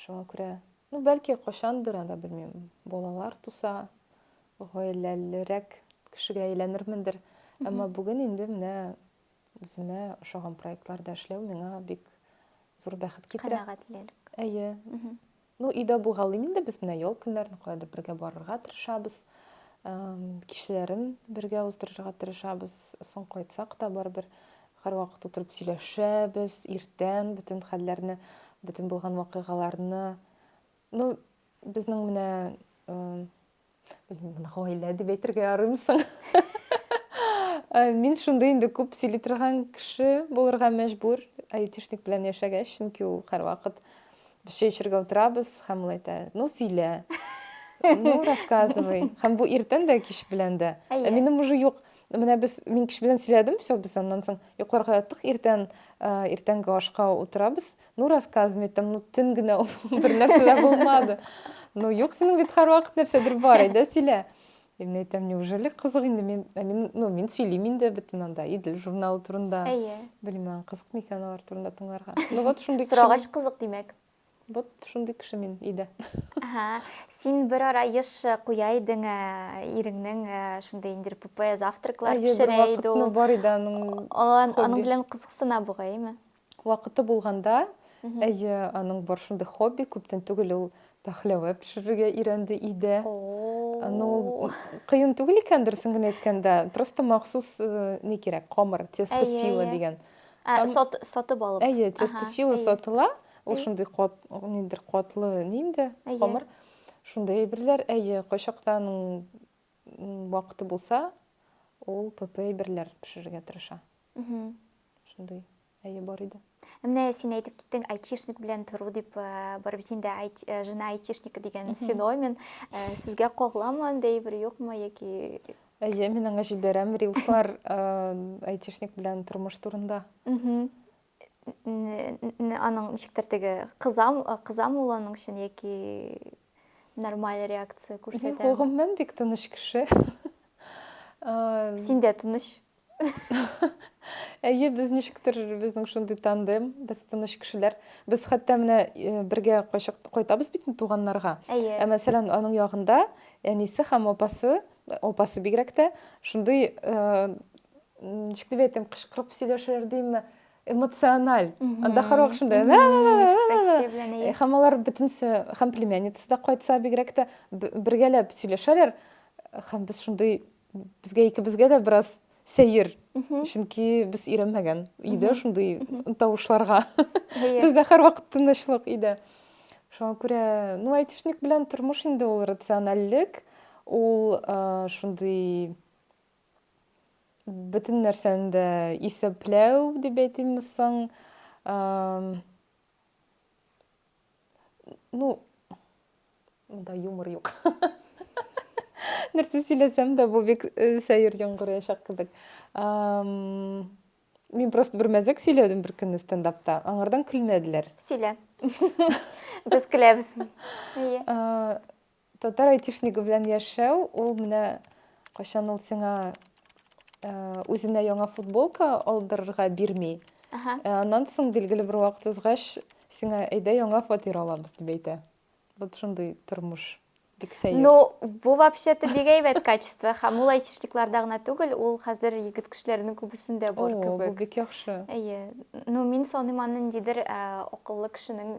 Шуңа күрә, ну, бәлки, кайчандыр анда, белмим, балалар туса, гаиләлерәк кешегә әйләнермендер. Әмма бүген инде менә үземә ошаган проектларда эшләү миңа бик зур бәхет китерә. Канәгатьлелек. Әйе. Ну, өйдә булгалыйм инде без менә ял көннәрен каядыр бергә барырга тырышабыз. Кичләрен бергә уздырырга тырышабыз. Соң кайтсак та барыбер Һәрвакыт утырып сөйләшәбез, иртән бөтен хәлләрне, бөтен булган вакыйгаларны. Ну, безнең менә, белмим, гаилә дип әйтергә ярыймы соң? Мин шундый инде күп сөйли торган кеше булырга мәҗбүр, айтишник белән яшәгәч, чөнки ул һәрвакыт без чәй эчәргә утырабыз һәм ул әйтә, ну, сөйлә. Ну, рассказывай. Һәм бу иртән дә, кич белән дә. Ә минем уже юк. Менә без мин кич белән сөйләдем, все, без аннан соң йокларга яттык, иртән иртәнге ашка утырабыз. Ну, рассказывай, там, ну, төн генә бер нәрсә дә булмады. Ну, юк, синең бит һәрвакыт нәрсәдер бар, әйдә сөйлә. Мин әйтәм, неужели кызык инде мин, мин, ну, мин сөйлим инде бөтен анда, идел журналы турында. Әйе. Белмәм, кызык микән алар турында тыңларга. Ну, вот шундый. Сорагач кызык, димәк. Вот шундый кеше мин өйдә. Ага. Син бер ара еш куя идең, ә, иреңнең ә, шундый инде РПП завтраклар Әйе, бер пешерә иде вакытны ул. бар иде аның Ала- Аның хобби. белән кызыксына бугай, әйме? Вакыты булганда, Мгм. әйе, аның бар шундый хобби, күптән түгел ул пәхләвә пешерергә өйрәнде өйдә. Аны ул О-о-о. кыен түгел икән, дөресен генә әйткәндә, просто махсус, э, ни кирәк, камыр, тесто Әйе, фила әйе. дигән. Ә, Там... сот, сатып алып. Әйе, тестофила ага, сатыла. Ул шундый кот, ниндер котлы, нинде, хамыр. Шундый әйберләр, әйе, кайчактан вакыты булса, ул ПП әйберләр пешерергә тырыша. Шундый, әйе, бар иде. Менә син әйтеп киттең, айтишник белән тору дип, э, барып инде э, жена айтишника дигән феномен. Э, сезгә кагыламы анда әйбер юкмы яки Әйе, мин аңа җибәрәм рилслар айтишник белән тормыш турында. Аның ничектер теге кызам, кызам ул аның өчен яки нормаль реакция күрсәтә. Юк, гомумән бик тыныч кеше. Син дә тыныч. Әйе, без ничектер безнең шундый тандем, без тыныч кешеләр. Без хәтта менә э, бергә кайтабыз бит туганнарга. Әйе. Ә мәсәлән, аның ягында әнисе һәм апасы Апасы бигрәк тә шундый ничек дип әйтим, кычкырып сөйләшәләр димме, эмоциональ. Анда һәрвак шундай. Һәм алар бөтенесе, һәм племянница да кайтса бигрәк тә бергәләп сөйләшәләр. Һәм без шундый безгә икебезгә дә бераз Сәер. Чөнки без өйрәнмәгән өйдә шундый тавышларга. Бездә һәрвакыт тынычлык өйдә. Шуңа күрә, ну, айтишник белән тормыш инде ул рациональлек, ул шундый бөтен нәрсәне дә исәпләү дип әйтимме соң. ну монда юмор юк нәрсә сөйләсәм дә бу бик э, сәер яңгыраячак кебек мин просто бер мәзәк сөйләдем бер көнне стендапта аңардан көлмәделәр сөйлә без көләбез Татар айтишнигы белән яшәү, ул менә кайчан ул сиңа э, үзенә яңа футболка алдырырга бирми. Ага. Э, Аннан соң билгеле бер вакыт узгач, сиңа әйдә яңа фатир алабыз дип әйтә. Вот шундый тормыш. Бик сәер. Ну, бу вообще-то бик әйбәт качество. Һәм ул айтишникларда гына түгел, ул хәзер егет кешеләренең күбесендә О, бар бу кебек. бик яхшы. Әйе. Ну, мин саныйм аны ниндидер ә, акыллы кешенең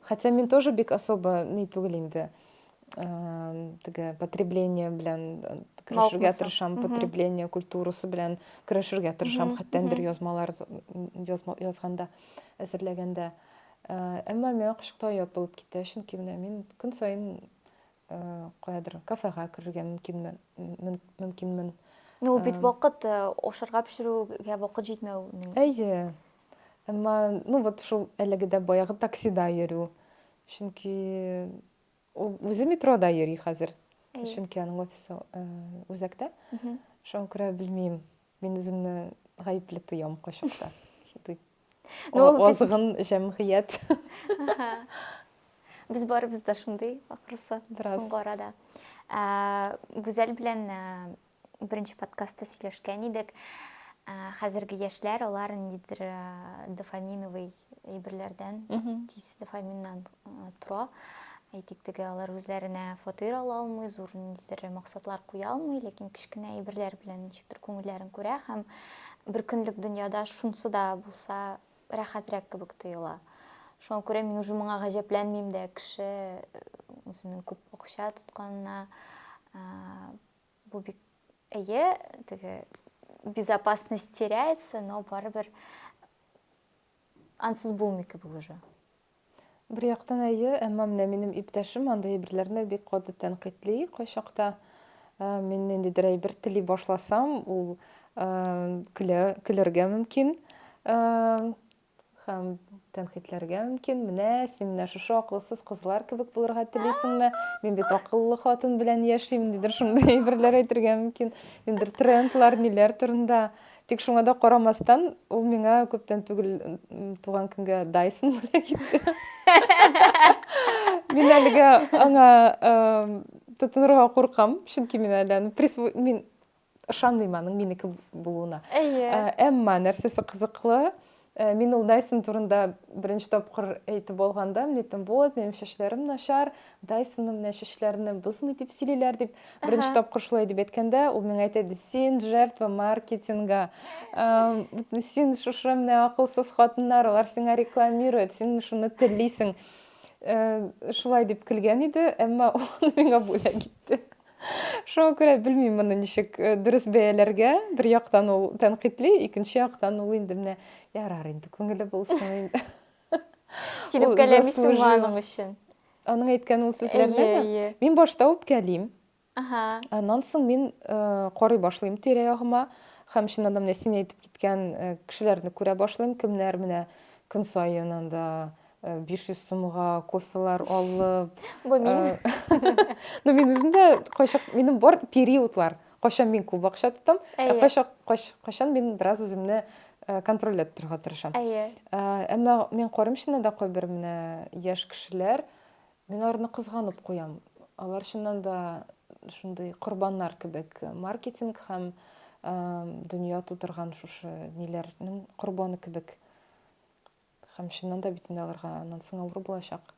Хотя мин тоже бик особо ни түгел инде. Теге потребление белән керешергә тырышам, потребление культурасы белән керешергә тырышам, хәтта бер язмалар язганда, әзерләгәндә. Әмма миңа кышкыта ят булып китә, чөнки менә мин көн саен каядыр кафега керергә мөмкинмен, мөмкинмен. Ну, бит вакыт ашарга пешерүгә вакыт җитмәү. Әйе. Әмма, ну вот шул әлеге дә баягы таксида йөрү. Чөнки ул үзе метрода йөри хәзер. Әйе. Чөнки аның офисы э, үзәктә. Мгм. Шуңа күрә белмим. Мин үземне гаепле тоям кайчакта. Шундый Ну, ул без- азгын җәмгыять. Аха. Без барыбыз да шундый, ахрысы, Бераз. соңгы арада. Ә, Гүзәл белән ә, беренче подкастта сөйләшкән идек. Хәзерге яшьләр алар ниндидер дофаминовый әйберләрдән, тиз дофаминнан тора. Әйтик теге алар үзләренә фатир ала алмый, зур ниндидер максатлар куя алмый, ләкин кечкенә әйберләр белән ничектер күңелләрен күрә һәм бер көнлек дөньяда шунсы да булса рәхәтрәк кебек тоела. Шуңа күрә мин уже моңа гаҗәпләнмим дә, кеше үзенең күп акча тотканына Бу бик әйе, теге безопасность теряется, но барыбер ансыз булмый кебек уже. Бер яктан әйе, әмма менә минем иптәшем андый әйберләрне бик каты тәнкыйтьли кайчакта. Ә, Мин ниндидер әйбер тели башласам, ул ә, көлә, көләргә мөмкин. Ә, Һәм тәнкыйтьләргә мөмкин, менә син менә шушы акылсыз кызлар кебек булырга телисеңме? Мин бит акыллы хатын белән яшим, дидер шундый әйберләр әйтергә мөмкин. Нидер трендлар, ниләр турында. Тик шуңа да карамастан, ул миңа күптән түгел туган көнгә Dyson бүләк итте. Мин әлегә аңа тотынырга куркам, чөнки мин әле мин ышанмыйм аның минеке булуына әйе ә, әмма нәрсәсе кызыклы ә, мин ул дайсон турында беренче тапкыр әйтеп алганда мин әйттем вот минем чәчләрем начар дайсонны менә чәчләрне бозмый дип сөйлиләр дип беренче тапкыр шулай дип әйткәндә ул миңа әйтә иде син жертва маркетинга син шушы менә акылсыз хатыннар алар сиңа рекламирует син шуны телисең ә, шулай дип көлгән иде әмма ул миңа бүләк итте Шуңа күрә белмим моны ничек э, дөрес бәяләргә. Бер яктан ул тәнкыйтьли, икенче яктан ул инде менә ярар инде күңеле булсын инде. Син Ул үпкәләмисең заслужил. аның өчен. Аның әйткән ул сүзләрне Әйе, әйе. мин башта үпкәлим. Ага. Аннан соң мин э, карый башлыйм тирә-ягыма һәм чыннан да менә син әйтеп киткән э, кешеләрне күрә башлыйм, кемнәр менә көн саен анда 500 э, сумга кофелар алып бу мин э, ну мин үзем дә кайчак минем бар периодлар кайчан мин күп акча тотам ә кайчак кайчан мин бераз үземне э, контрольдә торырга тырышам әйе әмма мин карыйм чыннан да кайбер менә яшь кешеләр мин аларны кызганып куям алар чыннан да шундый корбаннар кебек маркетинг һәм дөнья тутырган шушы ниләрнең корбаны кебек Хәм чыннан да бит инде аларга аннан соң авыр булачак.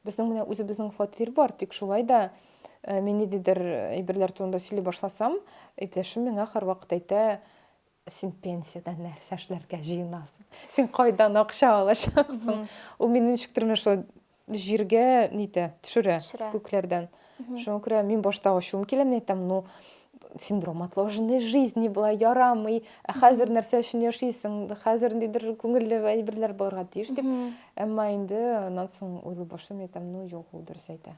Безнең менә үзебезнең фатир бар, тик шулай да э, мин ниндидер әйберләр турында сөйли башласам, иптәшем миңа һәрвакыт әйтә, син пенсияда нәрсә эшләргә җыенасың? Син кайдан акча алачаксың? Ул мине ничектер менә шулай Җиргә нитә, төшерә, Төшерә. күкләрдән. Мгм. Шуңа күрә мин башта ачуым килә, мин әйтәм, ну, синдром отложенной жизни була, ярамый, ә хәзер нәрсә өчен яшисең, хәзер ниндидер күңелле әйберләр булырга тиеш дип. Мгм. Әмма инде аннан соң уйлый башлыйм, әйтәм, ну, юк, ул дөрес әйтә.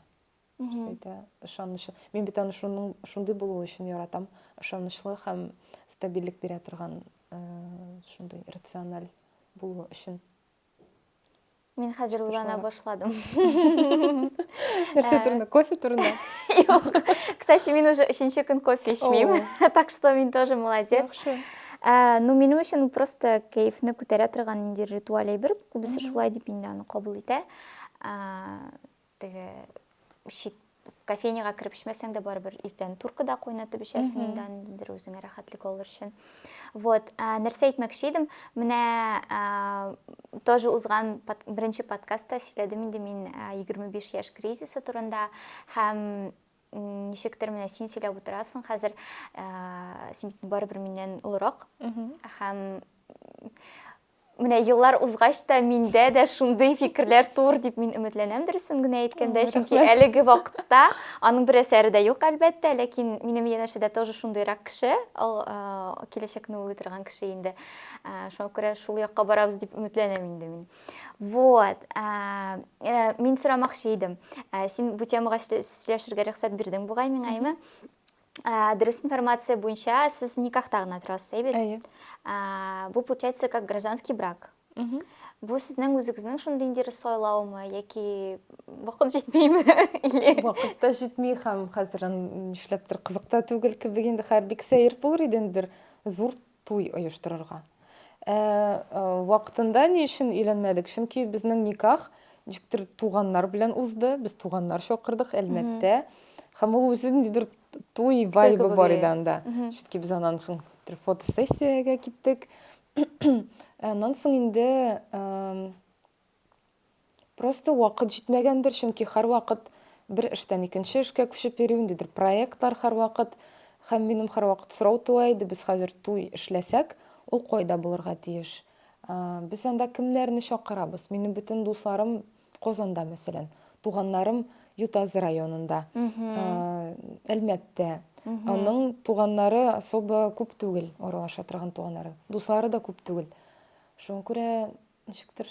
Дөрес Мгм. әйтә, ышанычлы. Мин бит аны шуның, шундый булуы өчен яратам. Ышанычлы һәм стабильлек бирә торган, э, шундый рациональ булуы өчен. Мин хәзер уйлана башладым. Нәрсә турында? Кофе турында? Юк. Кстати, мин уже өченче көн кофе эчмим. Так что мин тоже молодец. Яхшы. Э, ну, минем өчен просто кәефне күтәрә торган нинди ритуаль әйбер, күбесе шулай дип инде аны кабул итә. Э, Теге чит кофейняга кереп эчмәсәң дә барыбер иртән туркада кайнатып эчәсең инде аны ниндидер үзеңә рәхәтлек алыр өчен вот нәрсә әйтмәкче идем менә тоже узган беренче подкастта сөйләдем инде мин егерме биш яшь кризисы турында һәм ничектер менә син сөйләп утырасың хәзер син бит барыбер миннән олырак һәм Менә еллар узгач та миндә дә шундый фикерләр туыр дип мин өметләнәм, дөресен генә әйткәндә, чөнки әлеге вакытта аның бер әсәре дә юк, әлбәттә, ләкин минем янәшәдә тоже шундыйрак кеше, ул киләчәкне уйлый торган кеше инде. Шуңа күрә шул якка барабыз дип өметләнәм инде мин. Вот. Э, мин сорамакчы идем. Син бу темага сөйләшергә рөхсәт бирдең бугай миңа, әйме? Ә, дөрес информация буенча сез никахта гына торасыз, әйбит? Әйе. Ә, бу получается как гражданский брак. Угу. Бу сезнең үзегезнең шундый инде сайлаумы яки вакыт җитмиме? Или Вакыт та җитми һәм хәзер нишләптер кызык та түгел кебек инде хәер бик сәер булыр иде инде бер зур Туй оештырырга. Ә вакытында ни өчен өйләнмәдек? Чөнки безнең никах ничектер туганнар белән узды. Без туганнар чакырдык, әлмәттә. Һәм ул үзе ниндидер туй вайбы бар иде анда. Чөнки без аннан соң бер фотосессиягә киттек. Аннан соң инде Просто вакыт җитмәгәндер, чөнки һәрвакыт бер эштән икенче эшкә күчеп йөрим, ниндидер проектлар һәрвакыт. Һәм минем һәрвакыт сорау туа иде, без хәзер туй эшләсәк, ул кайда булырга тиеш? Без анда кемнәрне чакырабыз? Минем бөтен дусларым Казанда, мәсәлән, туганнарым Ютазы районында, Әлмәттә. Аның туганнары особо күп түгел, аралаша торган туганнары. Дуслары да күп түгел. Шуңа күрә ничектер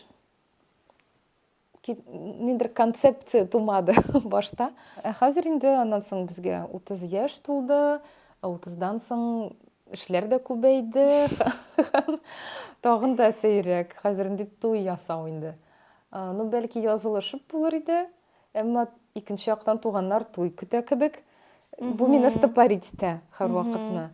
ниндидер концепция тумады башта ә хәзер инде аннан соң безгә утыз яшь тулды утыздан соң эшләр дә күбәйде тагын да сәйрәк хәзер инде туй ясау инде ну бәлки язылышып булыр иде Әмма икенче яктан туганнар туй көтә кебек. Бу мине стопорить итә һәрвакытны.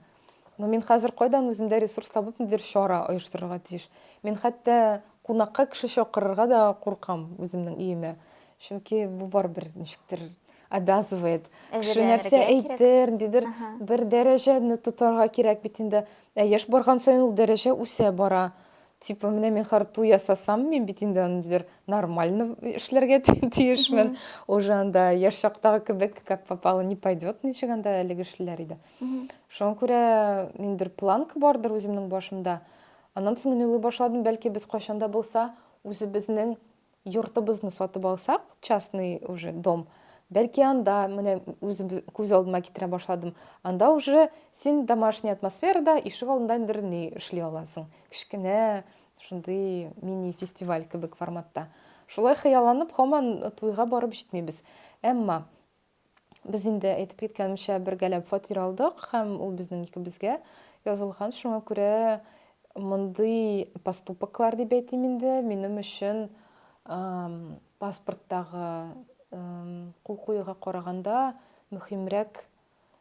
Но мин хәзер кайдан үземдә ресурс табып нидер чара оештырырга тиеш. Мин хәтта кунакка кеше чакырырга да куркам үземнең өемә. Чөнки бу барыбер ничектер обязывает. Кеше нәрсә әйтер, ниндидер бер дәрәҗәне тотарга кирәк бит инде. Ә яшь барган саен ул дәрәҗә үсә бара. Типа, менә мин харту ясасам, мин бит инде аны диләр нормально эшләргә тиешмен. Уже анда яшь чактагы кебек, как попало не пойдет, ничек анда әлеге эшләр иде. Шуңа күрә ниндер планка бардыр үземнең башымда. Аннан соң мин уйлый башладым, бәлки без кайчан да булса үзебезнең Йортыбызны сатып алсак, частный уже дом, бәлки анда, менә үзем күз алдыма китерә башладым, анда уже син домашний атмосферада ишек алдында ниндидер ни эшли аласың. Кечкенә шундый мини-фестиваль кебек форматта. Шулай хыялланып, һаман туйга барып җитмибез. Әмма Без инде, әйтеп киткәнемчә, бергәләп фатир алдык һәм ул безнең икебезгә язылган. Шуңа күрә мондый поступоклар, дип әйтим инде, минем өчен паспорттагы кул куюга караганда мөһимрәк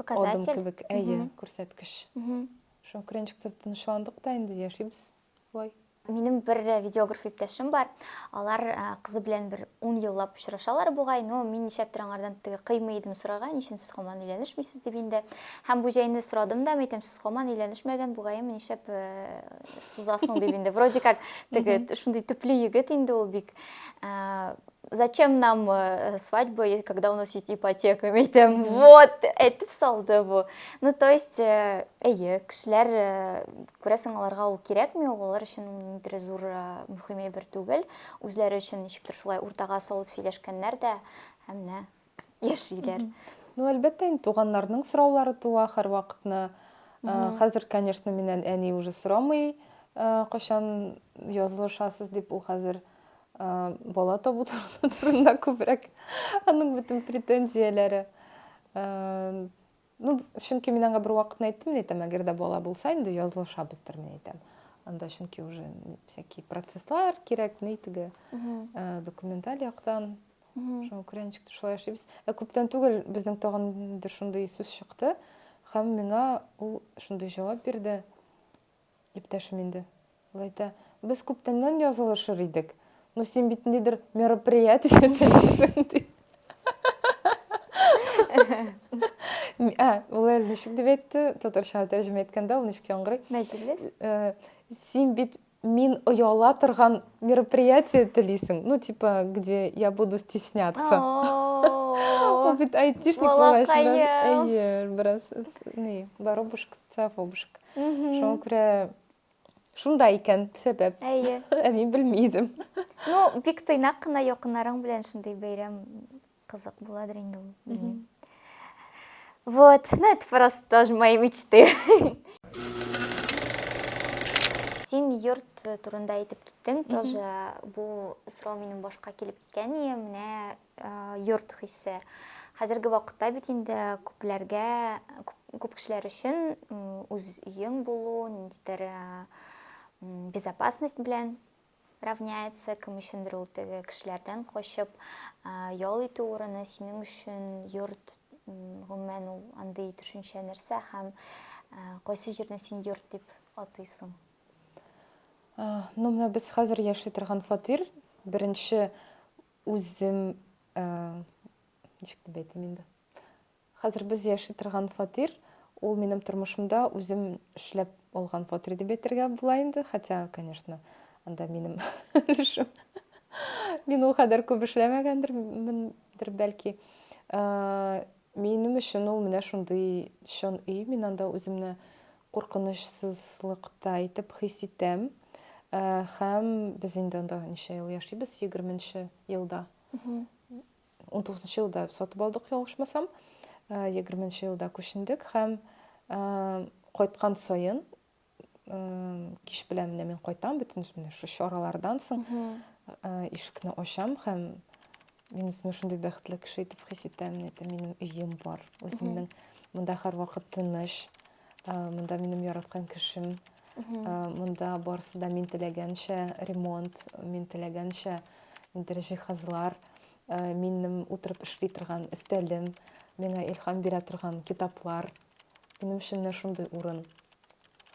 адым кебек. Әйе, күрсәткеч. Шуңа күрә ничектер тынычландык та инде, яшибез. Вай. Минем бер видеограф иптәшем бар. Алар кызы белән бер 10 еллап очрашалар бугай, но мин нишләптер аңардан теге кыймый идем сорарга, ничен сез хаман өйләнешмисез дип инде. Һәм бу җәйне сорадым да, әйтәм, сез хаман өйләнешмәгән бугайым, нишләп э, сузасың дип инде. Вроде как теге шундый төпле егет инде ул бик. Э, зачем нам э, свадьба, когда у нас есть ипотека, әйтәм, вот, әйтеп салды бу. Ну, то есть, э, әйе, кешеләр э, Күрәсең, аларга ул кирәкми, ул алар өчен ниндидер зур мөһим әйбер түгел. Үзләре өчен ничектер шулай уртага салып сөйләшкәннәр дә, һәм менә яшиләр. Ну, әлбәттә, инде туганнарның сораулары туа һәрвакытны. Хәзер, конечно, миннән әни уже сорамый, кайчан язылышасыз дип, ул хәзер бала табу турында күбрәк аның бөтен претензияләре. Ну, чөнки мин аңа бервакытны әйттем, мин әйтәм, әгәр дә бала булса, инде язылышабыздыр, мин әйтәм. Анда чөнки уже всякие процесслар кирәк, ни теге, э, документаль яктан. Шуңа күрә ничек тә шулай эшлибез. Ә күптән түгел безнең тагын инде шундый сүз чыкты, һәм миңа ул шундый җавап бирде. Иптәшем инде ул әйтә, без күптәннән язылышыр идек. Ну, син бит ниндидер мероприятие телисең, ди. Ә, ул әле ничек дип әйтте, татарчага тәрҗемә иткәндә ул ничек яңгырый? Мәҗлес? Э, син бит мин ояла торган мероприятие телисең. Ну, типа, где я буду стесняться. Ул бит айтишник булгач, бераз, әйе, бераз, не, воробушка Сафобушек. Шуңа күрә шунда икән сәбәп. Әйе. Ә мин белми идем. Ну, бик тыйнак кына якыннарың белән шундый бәйрәм кызык буладыр инде ул. Вот, ну это просто тоже мои мечты. Син йорт турында әйтеп киттең, тоже бу сорау минем башка килеп киткән, менә йорт хисе. Хәзерге вакытта бит инде күпләргә, күп кешеләр өчен үз өең булу, ниндидер безопасность белән равняется, кем өчендер ул теге кешеләрдән качып ял итү урыны, синең өчен йорт гомумән ул андый төшенчә нәрсә һәм кайсы җирне син йорт дип атыйсың? Ну, менә без хәзер яши торган фатир, беренче Үзем, ничек дип әйтим инде. Хәзер без яши торган фатир, ул минем тормышымда үзем эшләп алган фатир дип әйтергә була инде. Хотя, конечно, анда минем өлешем. Мин ул кадәр күп эшләмәгәндер, бәлки. Минем өчен ул менә шундый чын өй, мин анда үземне куркынычсызлыкта итеп хис итәм. Һәм без инде анда ничә ел яшибез? Егерменче елда. Унтугызынчы елда сатып алдык, ялгышмасам. Егерменче елда күчендек һәм кайткан саен кич белән менә мин кайтам бөтен менә шу чаралардан соң ишекне ачам һәм мин үземне шундый бәхетле кеше итеп хис итәм әйтәм минем өем бар үземнең монда һәрвакыт тыныч монда минем яраткан кешем монда барысы да мин теләгәнчә ремонт мин теләгәнчә инде җиһазлар минем утырып эшли торган өстәлем миңа илһам бирә торган китаплар Минем өчен менә шундый урын.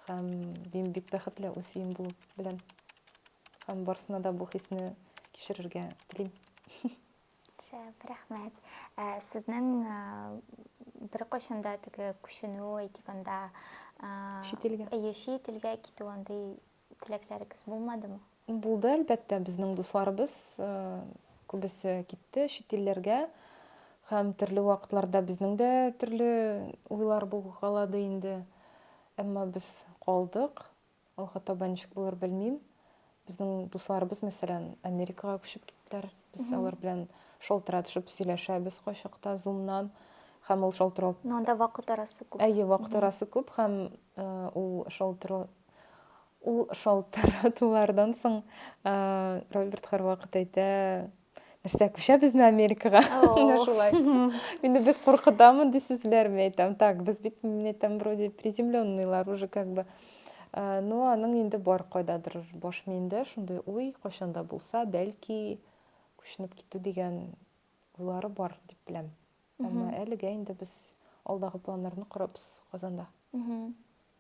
Һәм мин бик бәхетле үз өем булу белән. Һәм барсына да бу хисне кичерергә телим. Шәп, рәхмәт. Ә, сезнең ә, бер кайчанда теге күченү әйтик анда, ә, чит илгә. Әйе, чит илгә китү андый Теләкләрегез булмадымы? Булды, әлбәттә. Безнең дусларыбыз күбесе китте чит илләргә. Һәм төрле вакытларда безнең дә төрле уйлар булгалады инде. Әмма без калдык. Алга таба ничек булыр белмим. Безнең дусларыбыз, мәсәлән, Америкага күчеп киттеләр. Без алар белән шалтыратышып сөйләшәбез кайчакта Zoom-нан һәм ул шалтырау. Но анда вакыт арасы күп. Әйе, вакыт арасы күп һәм ул шалтырау Ул шалтыратулардан соң Роберт һәрвакыт әйтә, нәрсә, күчәбезме Америкага? Менә шулай. Мине бик куркыта мондый сүзләр, мин әйтәм, так, без бит, мин әйтәм, вроде приземленныйлар уже как бы. Ну, аның инде бар кайдадыр баш миендә шундый уй, кайчан да булса, бәлки күченеп китү дигән уйлары бар дип беләм. Әмма әлегә инде без алдагы планнарны корабыз Казанда.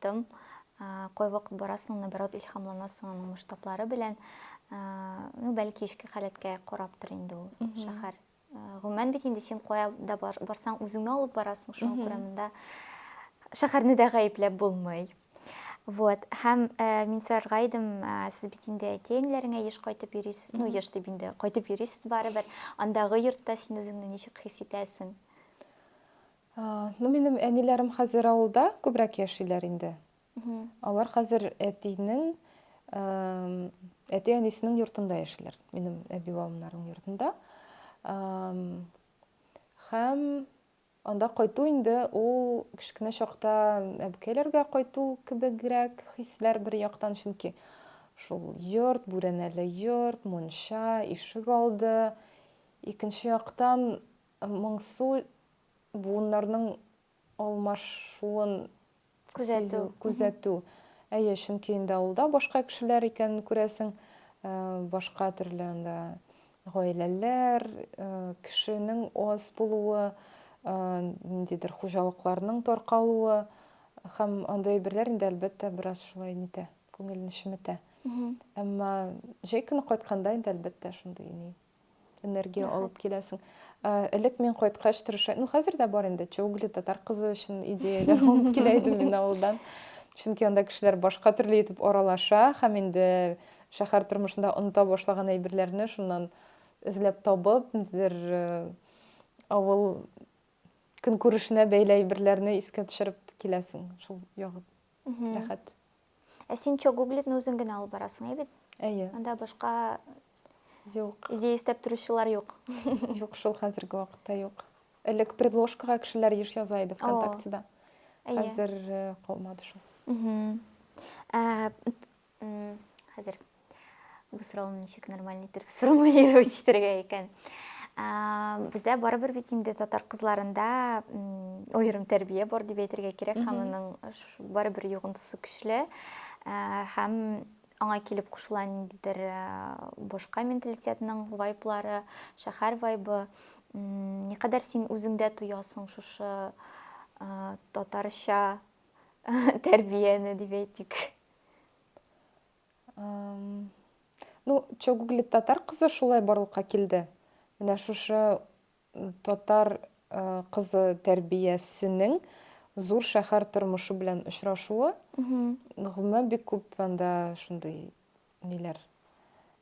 Тым кайвакыт барасың, наоборот, илхамланасың аның масштаблары белән. Ну, бәлки ишке халәткә караптыр инде ул шәһәр. Гомумән бит инде син кая да барсаң, үзеңне алып барасың, шуңа күрә монда шәһәрне дә гаепләп булмый. Вот. Һәм э, мин сорарга идем, э, сез бит инде әтиәниләреңә еш кайтып йөрисез, ну, еш дип инде кайтып йөрисез барыбер. Андагы йортта син үзеңне ничек хис итәсең? Ну, минем әниләрем хәзер авылда күбрәк яшиләр инде. Алар хәзер әтинең, әти әнисенең йортында яшиләр, минем әби бабамнарның йортында. Һәм анда кайту инде ул кечкенә чакта әбекәйләргә кайту кебегрәк хисләр бер яктан, чөнки шул йорт, бүрәнәле йорт, мунча, ишек алды. Икенче яктан Моңсу буыннарның алмашуын сизү, күзәтү. Әйе, чөнки инде авылда башка кешеләр икәнен күрәсең, башка төрле анда гаиләләр, кешенең аз булуы, ниндидер хуҗалыкларның таркалуы һәм андый әйберләр инде, әлбәттә, бераз шулай нитә, күңелне чеметә. Әмма җәй көне кайтканда инде, әлбәттә, шундый ни энергия Рәхәт. алып киләсең. Ә, Элек мин кайткач тырыша, ну хәзер дә бар инде, Чоугли татар кызы өчен идеяләр алып килә идем мин авылдан. Чөнки анда кешеләр башка төрле итеп аралаша һәм инде шәһәр тормышында оныта башлаган әйберләрне шуннан эзләп табып, ниндидер э, авыл көнкүрешенә бәйле әйберләрне искә төшереп киләсең. Шул ягы Мгм. рәхәт. Ә син чок гуглитны үзең генә алып барасың, әйбит? Әйе. Анда башка юк. Идея эстәп торучылар юк. Юк, шул хәзерге вакытта юк. Элек предложкага кешеләр еш яза иде ВКонтактеда. Хәзер э, калмады шул. Э, хәзер Бу сорауны ничек нормально иттереп сформулировать итәргә икән? Бездә барыбер бит инде татар кызларында аерым тәрбия бар дип әйтергә кирәк, һәм аның барыбер йогынтысы көчле һәм аңа килеп кушыла ниндидер башка менталитетның вайблары, шәһәр вайбы. Никадәр син үзеңдә тоясың шушы татарча тәрбияне дип әйтик? Ну, что гуглит татар кызы шулай барлыкка килде. Менә шушы татар э, кызы тәрбиясенең зур шәһәр тормышы белән очрашуы. Гомумән бик күп анда шундый ниләр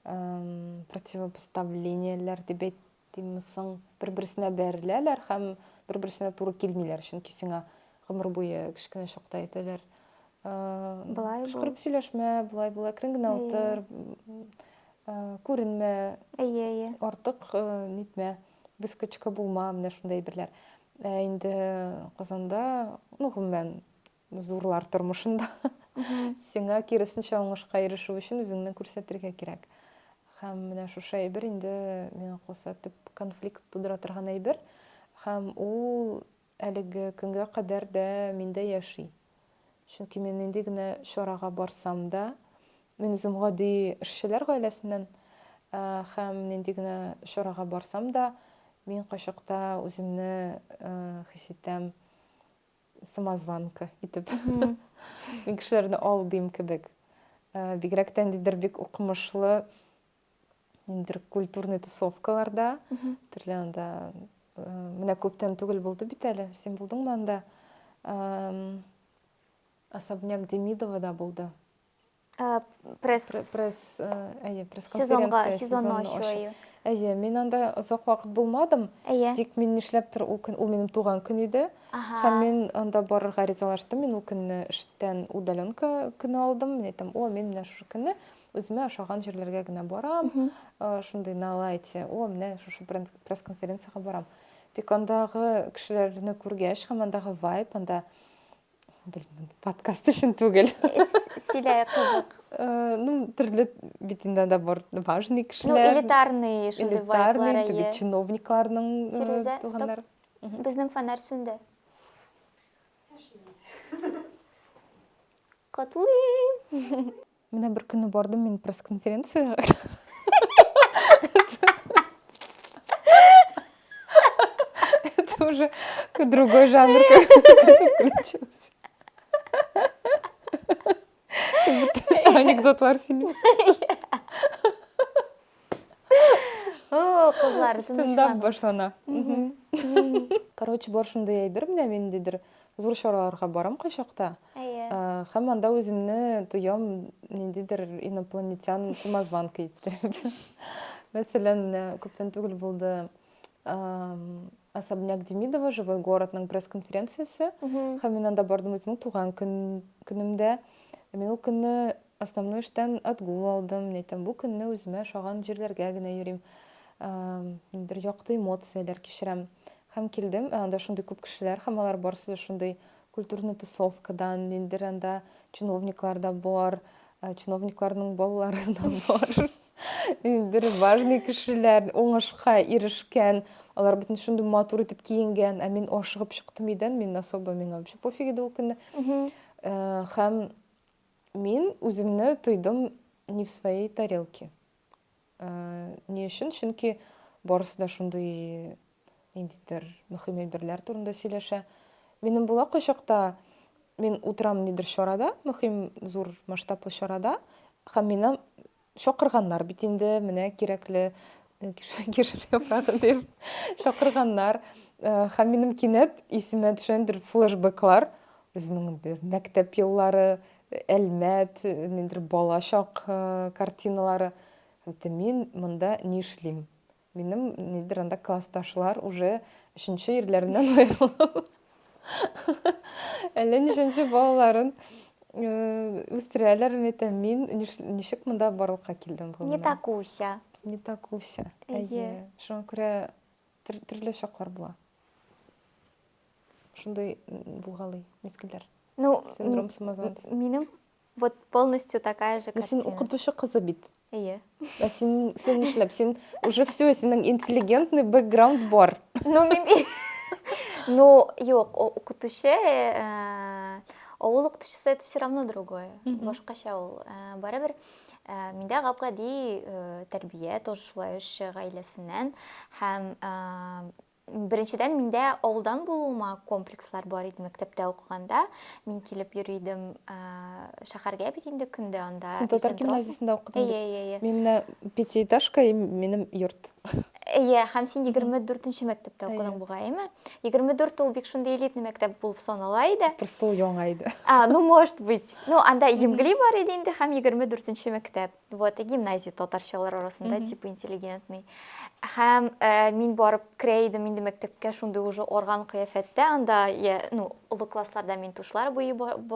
эм, противопоставлениеләр дип әйт- Димме соң, бер-берсенә бәреләләр һәм бер-берсенә туры килмиләр, чөнки сиңа гомер буе кечкенә чакта әйтәләр, Болай кычкырып сөйләшмә, болай бул, әкрен генә утыр, күренмә, артык нитмә, выскочка булма, менә шундый әйберләр. Ә инде Казанда, ну, гомумән, Зурлар тормышында сиңа киресенчә уңышка ирешү өчен үзеңне күрсәтергә кирәк. Һәм менә шушы әйбер инде миңа калса төп конфликт тудыра торган әйбер. Һәм ул әлеге көнгә кадәр дә миндә яши. Чөнки мин нинди генә чарага барсам да, мин үзем гади эшчеләр гаиләсеннән э, һәм нинди генә чарага барсам да, мин кайчакта үземне э, хис итәм самозванка итеп мин кешеләрне алдыйм кебек э, бигрәк тә ниндидер бик укымышлы ниндидер культурный тусовкаларда төрле анда э, менә күптән түгел булды бит әле син булдыңмы анда особняк демидовада булды Ә, пресс... Пресс, әйе, пресс-конференция сезонны ачу, әйе. Әйе, мин анда озак вакыт булмадым. Әйе. Тик мин нишләптер ул көн, ул минем туган көн иде. Һәм мин анда барырга ризалаштым. Мин ул көнне эштән удаленка көне алдым. Мин әйтәм, о, мин менә шушы көнне үземә ошаган җирләргә генә барам. Шундый на лайте. О, менә шушы пресс-конференциягә барам. Тик андагы кешеләрне күргәч, һәм андагы вайб, анда Белмим, подкаст өчен түгел. Сөйләй кызык. Э, ну, төрле бит инде анда бар важный кешеләр. Ну, элитарный шундый элитарный, теге чиновникларның э, туганнары. Безнең фонарь сүнде. Котлыйм. Менә бер көнне бардым мин пресс-конференцияга. Это уже другой жанр включился. Анекдотлар сильный. О, кызлар, стендап башлана. Короче, бар шундый әйбер менә мин дидер. Зур чараларга барам кайчакта. Әйе. Һәм анда үземне тоям ниндидер инопланетян самозванка иттереп. Мәсәлән, менә күптән түгел булды Особняк Демидова, Живой городның пресс-конференциясе. Һәм мин анда бардым үземнең туган көнемдә. Мин ул көнне основной эштән отгул алдым. Мин әйтәм, бу көнне үземә ошаган җирләргә генә йөрим. Ниндидер якты эмоцияләр кичерәм. Һәм килдем, анда шундый күп кешеләр, һәм алар барысы да шундый Культурный тусовкадан, ниндидер анда чиновниклар да бар, э, чиновникларның балалары да бар. Ниндидер важный кешеләр, уңышка ирешкән, алар бөтен шундый матур итеп киенгән, ә мин ашыгып чыктым өйдән, мин особо миңа вообще пофиг иде ул көнне. Э, Һәм мин үземне тойдым не в своей тарелке. Ни өчен? Чөнки барысы да шундый ниндидер мөһим әйберләр турында сөйләшә. Минем була кайчакта мин утырам нидер чарада, мөһим зур масштаблы чарада, һәм мине чакырганнар бит инде, менә кирәкле э, кишер яфрагы дип чакырганнар. Э, һәм минем кинәт исемә төшәндер флешбеклар. Үземнең мәктәп еллары, Әлмәт, ниндидер балачак картиналары. Әйтте, мин монда ни эшлим? Минем нидер анда классташлар уже өченче ирләреннән аерылып, әллә ничәнче балаларын үстерәләр. Мин әйтәм, мин ничек монда барлыкка килдем? Не так уся. Не так уся. Әйе. Шуңа күрә төрле чаклар була. Шундый булгалый, мескенләр. Ну, синдром самозванца. Минем вот полностью такая же картина. Син укытучы кызы бит. Әйе. Ә син син эшләп, син уже все, синең интеллигентный бэкграунд бар. Ну, мин Ну, юк, укытучы, э, авыл укытучысы это все равно другое. Башкача ул. Э, барыбер Э, миндә габгади э, тәрбия тоже шулай эш гаиләсеннән һәм э, Беренчедән, миндә авылдан булуыма комплекслар бар иде мәктәптә укыганда. Мин килеп йөри идем шәһәргә бит инде көн дә анда. Син татар гимназиясендә укыдың бит. Әйе, әйе. Мин менә пятиэтажка и минем йорт. Әйе, һәм син 24-нче мәктәптә укыдың бугайымы? 24 ул бик шундый элитный мәктәп булып санала иде. Просто ул яңа иде. А, ну может быть. Ну, анда Емгли бар иде инде һәм 24-нче мәктәп. Вот, и гимназия татарчалар арасында, mm -hmm. типа интеллигентный. Һәм ә, мин барып керә идем инде мәктәпкә, шундый уже орган кыяфәттә, анда, я, ну, олы классларда мин тушлар буй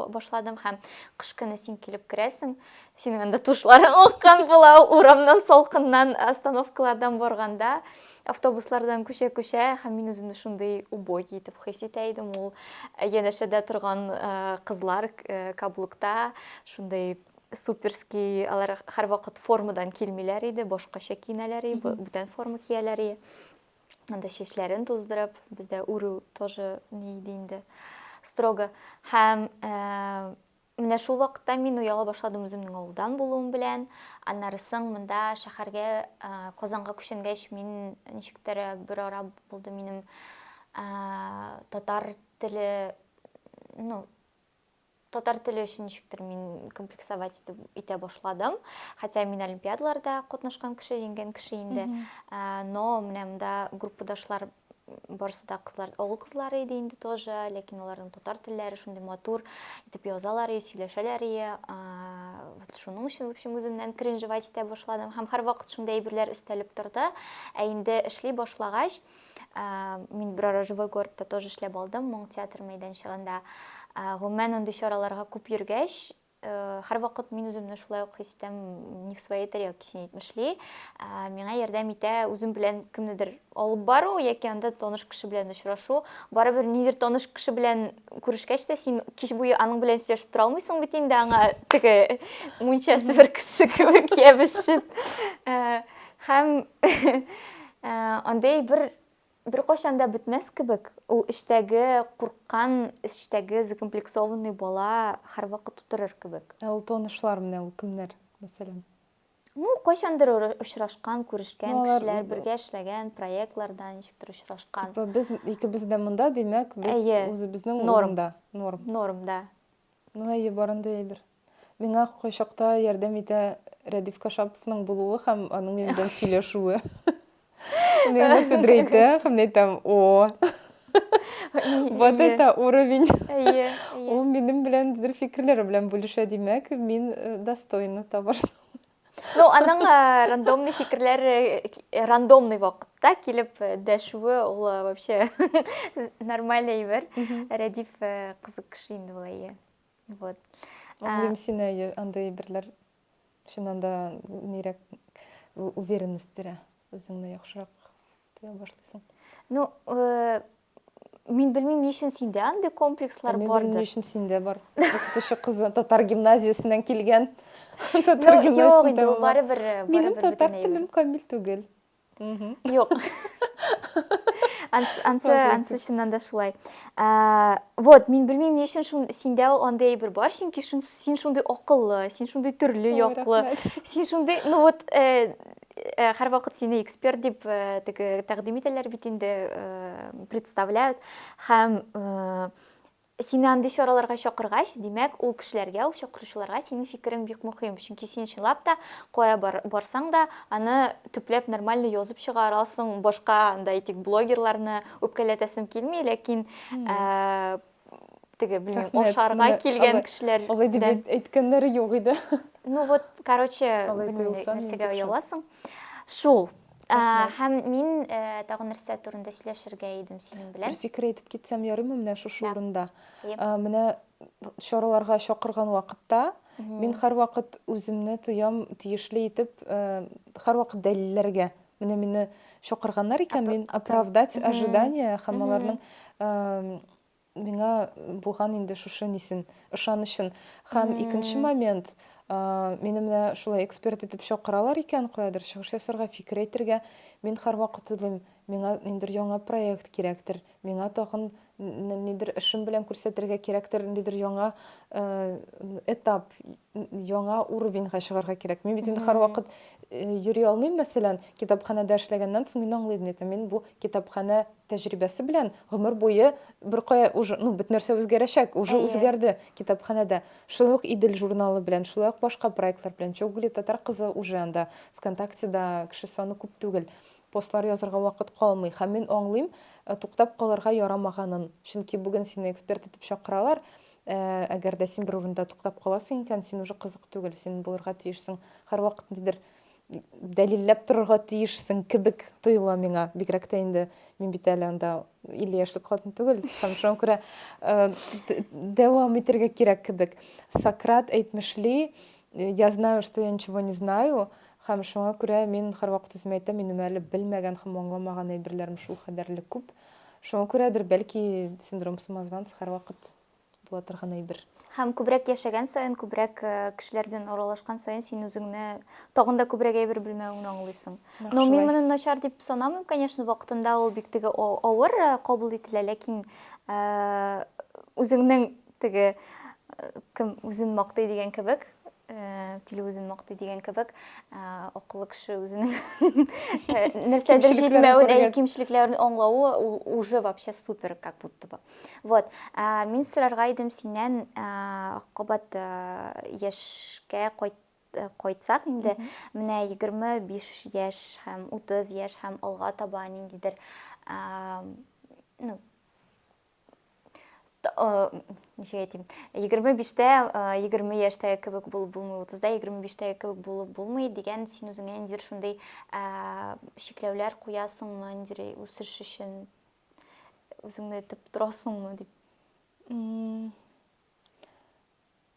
башладым, һәм кыш көне син килеп керәсең, синең анда тушларың аккан була, урамнан салкыннан остановкалардан барганда, автобуслардан күчә-күчә, һәм мин үземне шундый убогий итеп хис итә идем, ул янәшәдә торган кызлар каблукта, шундый Суперский, алар һәрвакыт формадан килмиләр иде, башкача киенәләр иде, бу- бүтән форма кияләр иде. Анда чәчләрен туздырып, бездә үрү тоже ни иде инде, строго. Һәм э, менә шул вакытта мин ояла башладым үземнең авылдан булуым белән. Аннары соң монда шәһәргә, э, Казанга күченгәч, мин ничектер э, бер ара булды минем э, татар теле, ну, татар теле өчен ничектер мин комплексовать итеп итә башладым хотя мин олимпиадаларда катнашкан кеше җиңгән кеше инде ә, но менә монда группадашлар барысы да кызлар авыл кызлары иде инде тоже ләкин аларның татар телләре шундый матур итеп язалар и сөйләшәләр и вот шуның өчен в общем үземнән кринжевать итә башладым һәм һәрвакыт шундый әйберләр өстәлеп торды ә инде эшли башлагач Мин берара Живой городта тоже эшләп алдым, моң театр мәйданчыгында. Гомумән, андый чараларга күп йөргәч, һәрвакыт мин үземне шулай ук хис итәм, не в своей тарелке син әйтмешли. Миңа ярдәм итә үзем белән кемнедер алып бару яки анда таныш кеше белән очрашу. Барыбер нидер таныш кеше белән күрешкәч тә син кич буе аның белән сөйләшеп тора алмыйсың бит инде аңа теге мунча себеркесе кебек ябышып. Һәм Ә, андый бер беркайчан да бетмәс кебек, ул эчтәге курккан, эчтәге закомплексованный бала һәрвакыт утырыр кебек. Ә ул танышлар менә ул кемнәр, мәсәлән? Ну, кайчандыр очрашкан, күрешкән ну, кешеләр, бергә эшләгән проектларда ничектер очрашкан. Типа без икебез дә монда, димәк, без үзебезнең урында, норм. Норм, да. Ну, әйе, барында әйбер. Миңа кайчакта ярдәм итә Рәдиф Кашаповның булуы һәм аның минем белән сөйләшүе. Мин нәрсә дрейтә, һәм мин әйтәм, о, вот это уровень. Ул минем белән дер фикерләре белән бүлешә, димәк, мин э, достойна табарсың. Ну, аның э, рандомный фикерләр э, рандомный вакытта килеп дәшүе ул вообще нормаль әйбер. Рәдиф кызык кеше инде ул әйе. Вот. Аңлыйм сине, андый әйберләр чыннан да нирәк уверенность бирә, үзеңне яхшырак тоя башлыйсың. Ну, э, мин белмим, ни өчен синдә андый комплекслар бардыр. Мин белмим, ни өчен синдә бар. Укытучы кызы татар гимназиясеннән килгән. Татар гимназиясеннән. Юк, инде барыбер, барыбер. Минем татар телем камил түгел. Юк. Ансы, ансы чыннан да шулай. Вот, мин белмим, ни өчен шун синдә ул андый әйбер бар, чөнки шун син шундый акыллы, син шундый төрле яклы. Син шундый, ну вот, э, э, һәр вакыт сине эксперт дип э, теге тәкъдим итәләр бит инде, представляют. Һәм Сине андый чараларга чакыргач, димәк, ул кешеләргә, ул чакыручыларга синең фикерең бик мөһим, чөнки син чынлап та кая барсаң да, аны төпләп нормально язып чыгара аласың, башка анда әйтик блогерларны үпкәләтәсем килми, ләкин теге, белмим, ашарга килгән кешеләр. Алай дип әйткәннәре юк иде. Ну вот, короче, нәрсәгә ояласың. Шул. Ә, һәм мин ә, тагын нәрсә турында сөйләшергә идем синең белән. Бер фикер әйтеп китсәм ярыймы менә шушы урында? Әйе. Ә, менә чараларга чакырган вакытта мин һәрвакыт үземне тоям тиешле итеп, ә, һәрвакыт дәлилләргә. Менә мине чакырганнар икән, мин оправдать ожидание һәм аларның Миңа булган инде шушы нисен, ышанычын. Һәм икенче момент, мине менә шулай эксперт итеп чакыралар икән, каядыр чыгыш ясарга, фикер әйтергә. Мин һәрвакыт уйлыйм, миңа ниндидер яңа проект кирәктер, миңа тагын нидер эшем белән күрсәтергә кирәктер, ниндидер яңа этап, яңа уровеньга чыгарга кирәк. Мин бит инде һәрвакыт э, йөри алмыйм, мәсәлән, китапханәдә эшләгәннән соң мин аңлый идем, әйтәм, мин бу китапханә тәҗрибәсе белән гомер буе бер кая уже, ну, бит нәрсә үзгәрәчәк, уже Әйе. үзгәрде китапханәдә. Шулай ук Идел журналы белән, шулай ук башка проектлар белән. Чогули татар кызы уже анда ВКонтактеда кеше саны күп түгел. Постлар язырга вакыт калмый. Һәм мин аңлыйм, э, туктап калырга ярамаганын. Чөнки бүген сине эксперт итеп чакыралар, Ә әгәр дә син бер урында туктап каласың икән, син уже кызык түгел, син булырга тиешсең. Һәрвакыт нидер дәлилләп торырга тиешсең кебек тоела миңа. Бигрәк тә инде мин бит әле анда 50 яшьлек хатын түгел. Һәм шуңа күрә э, дәвам итәргә кирәк кебек. Сократ әйтмешли, э, я знаю, что я ничего не знаю, һәм шуңа күрә мин һәрвакыт үземә әйтәм, минем әле белмәгән һәм аңламаган әйберләрем шул кадәрле күп. Шуңа күрәдер, бәлки, синдром самозванца һәрвакыт була торган әйбер. Һәм күбрәк яшәгән саен, күбрәк э, кешеләр белән аралашкан саен син үзеңне тагын да күбрәк әйбер белмәвеңне аңлыйсың. Но мин моны начар дип санамыйм, конечно, вакытында ул бик теге авыр э, кабул ителә, ләкин э, үзеңнең теге кем үзен мактый дигән кебек, тиле үзен мактый дигән кебек акыллы кеше үзенең нәрсәдер җитмәвен әйе кимчелекләрен аңлавы ул уже вообще супер как будто бы вот мин сорарга идем синнән кабат яшькә кайт кайтсак инде менә егерме биш яшь һәм утыз яшь һәм алга таба ниндидер ну ничек әйтим егерме биштә егерме яшьтәге кебек булып булмый утызда егерме биштәге кебек булып булмый дигән син үзеңә ниндидер шундый чикләүләр куясыңмы ниндидер үсеш өчен үзеңне этеп торасыңмы дип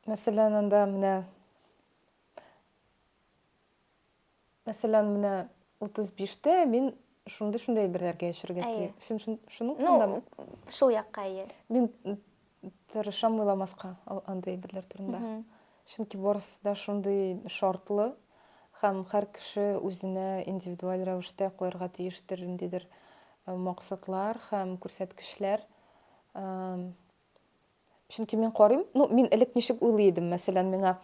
мәсәлән анда менә Мәсәлән, менә 35 тә мин шундый-шундый әйберләргә яшәргә тиеш. Син шуның турындамы? Ну, шул якка әйе. Мин тырышам уйламаска андый әйберләр турында. Чөнки барысы да шундый шартлы һәм һәр кеше үзенә индивидуаль рәвештә куярга тиештер ниндидер максатлар һәм күрсәткечләр. Чөнки мин карыйм, ну, мин элек ничек уйлый идем, мәсәлән, миңа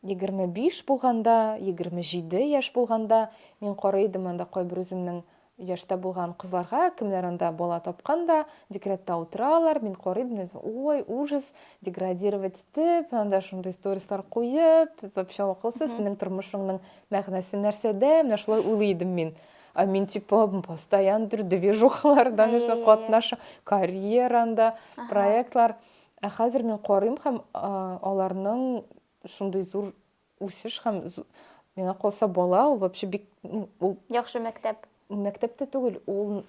25 булганда, 27 яшь булганда, мин карый идем анда кайбер үземнең яшьтә булган кызларга, кемнәр анда бала тапкан да, декретта утыралар, мин карый идем, ой, ужас, деградировать итеп, анда шундый сторислар куеп, вообще акылсыз, синең тормышыңның мәгънәсе нәрсәдә, менә шулай уйлый идем мин. Ә мин типа постоянно бер движухаларда нәрсә катнаша, карьеранда, проектлар. Ә хәзер мин карыйм һәм аларның шундый зур үсеш һәм миңа калса бала ул вообще бик ул яхшы мәктәп. Мәктәптә түгел, ул